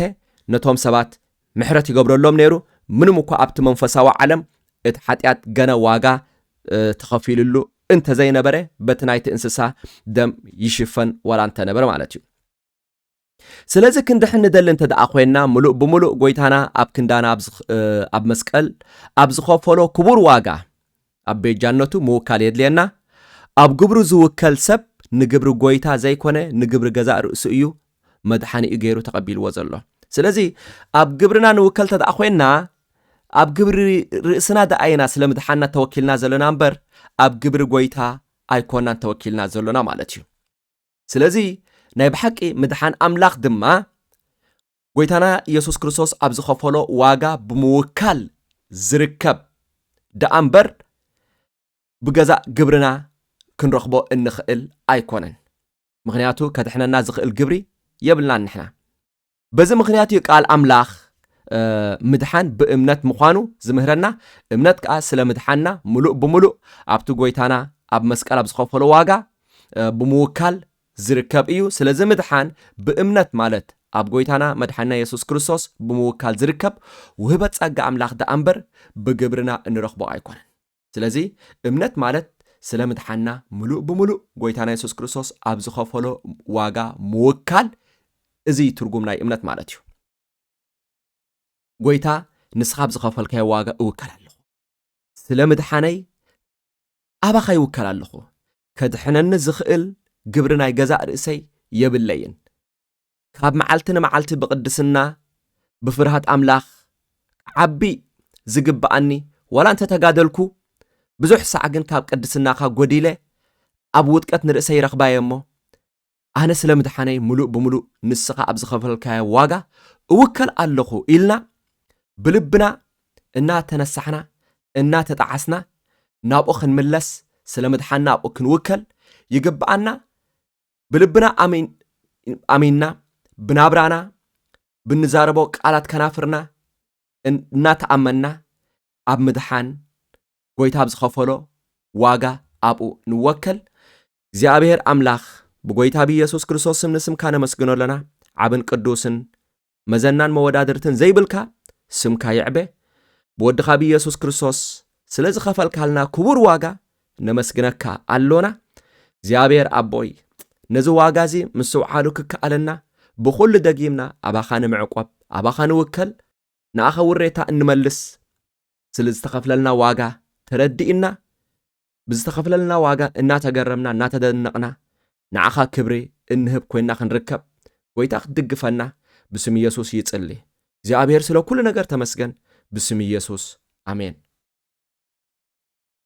ነቶም ሰባት ምሕረት ይገብረሎም ነይሩ ምንም እኳ ኣብቲ መንፈሳዊ ዓለም እቲ ሓጢኣት ገና ዋጋ ተኸፊልሉ እንተዘይነበረ በቲ ናይቲ እንስሳ ደም ይሽፈን ዋላ እንተነበረ ማለት እዩ ስለዚ ክንድሕን ንደሊ እንተ ደኣ ኾይንና ምሉእ ብምሉእ ጎይታና ኣብ ክንዳና ኣብ መስቀል ኣብ ዝኸፈሎ ክቡር ዋጋ ኣብ ቤጃነቱ ምውካል የድልየና። ኣብ ግብሩ ዝውከል ሰብ ንግብሪ ጎይታ ዘይኮነ ንግብሪ ገዛእ ርእሱ እዩ መድሓኒኡ ገይሩ ተቐቢልዎ ዘሎ። ስለዚ ኣብ ግብርና ንውከል እንተ ደኣ ኾይንና ኣብ ግብሪ ርእስና ደኣ ኢና ስለ ምድሓንና ተወኪልና ዘለና እምበር ኣብ ግብሪ ጎይታ ኣይኮናን ተወኪልና ዘሎና ማለት እዩ። ስለዚ ናይ ብሓቂ ምድሓን ኣምላኽ ድማ ጎይታና ኢየሱስ ክርስቶስ ኣብ ዝኸፈሎ ዋጋ ብምውካል ዝርከብ ደኣ እምበር ብገዛእ ግብርና ክንረኽቦ እንኽእል ኣይኮነን። ምኽንያቱ ከድሕነና ዝኽእል ግብሪ የብልናን ንሕና። በዚ ምኽንያት እዩ ቃል ኣምላኽ ምድሓን ብእምነት ምዃኑ ዝምህረና፣ እምነት ከኣ ስለ ምድሓንና ምሉእ ብምሉእ ኣብቲ ጐይታና ኣብ መስቀል ኣብ ዝኸፈሎ ዋጋ ብምውካል ዝርከብ እዩ። ስለዚ ምድሓን ብእምነት ማለት ኣብ ጐይታና መድሓንና የሱስ ክርስቶስ ብምውካል ዝርከብ ውህበት ጸጋ ኣምላኽ ደኣ እምበር ብግብርና እንረኽቦ ኣይኮነን። ስለዚ እምነት ማለት ስለ ምድሓንና ምሉእ ብምሉእ ጎይታና የሱስ ክርስቶስ ኣብ ዝኸፈሎ ዋጋ ምውካል እዚ እዩ ትርጉም ናይ እምነት ማለት እዩ። ጎይታ ንስኻ ኣብ ዝኸፈልካዮ ዋጋ እውከል ኣለኹ፣ ስለ ምድሓነይ ኣባኻ ይውከል ኣለኹ፣ ከድሕነኒ ዝኽእል ግብሪ ናይ ገዛእ ርእሰይ የብለይን። ካብ መዓልቲ ንመዓልቲ ብቕድስና ብፍርሃት ኣምላኽ ክዓቢ ዝግብኣኒ ዋላ እንተ ተጋደልኩ ብዙሕ ሳዕ ግን ካብ ቅድስናኻ ጎዲለ ኣብ ውጥቀት ንርእሰይ ይረኽባየ እሞ ኣነ ስለ ምድሓነይ ምሉእ ብምሉእ ንስኻ ኣብ ዝኸፈልካዮ ዋጋ እውከል ኣለኹ ኢልና ብልብና እናተነሳሕና እናተጣዓስና ናብኡ ክንምለስ ስለ ምድሓና ኣብኡ ክንውከል ይግብኣና ብልብና ኣሚንና ብናብራና ብንዛረቦ ቃላት ከናፍርና እናተኣመንና ኣብ ምድሓን ጎይታ ኣብ ዝኸፈሎ ዋጋ ኣብኡ ንወከል እግዚኣብሔር ኣምላኽ ብጎይታ ብኢየሱስ ክርስቶስ ስም ንስምካ ነመስግኖ ኣለና ዓብን ቅዱስን መዘናን መወዳድርትን ዘይብልካ ስምካ ይዕበ ብወድኻ ብኢየሱስ ክርስቶስ ስለ ዝኸፈልካልና ክቡር ዋጋ ነመስግነካ ኣሎና እግዚኣብሔር ኣቦይ ነዚ ዋጋ እዚ ምስትውዓሉ ክከኣለና ብኹሉ ደጊምና ኣባኻ ንምዕቆብ ኣባኻ ንውከል ንኣኸ ውሬታ እንመልስ ስለ ዝተኸፍለልና ዋጋ ተረዲእና ብዝተኸፍለልና ዋጋ እናተገረምና እናተደነቕና ንዓኻ ክብሪ እንህብ ኮይና ክንርከብ ጎይታ ክትድግፈና ብስም ኢየሱስ ይጽሊ። እግዚኣብሔር ስለ ኩሉ ነገር ተመስገን ብስም ኢየሱስ ኣሜን።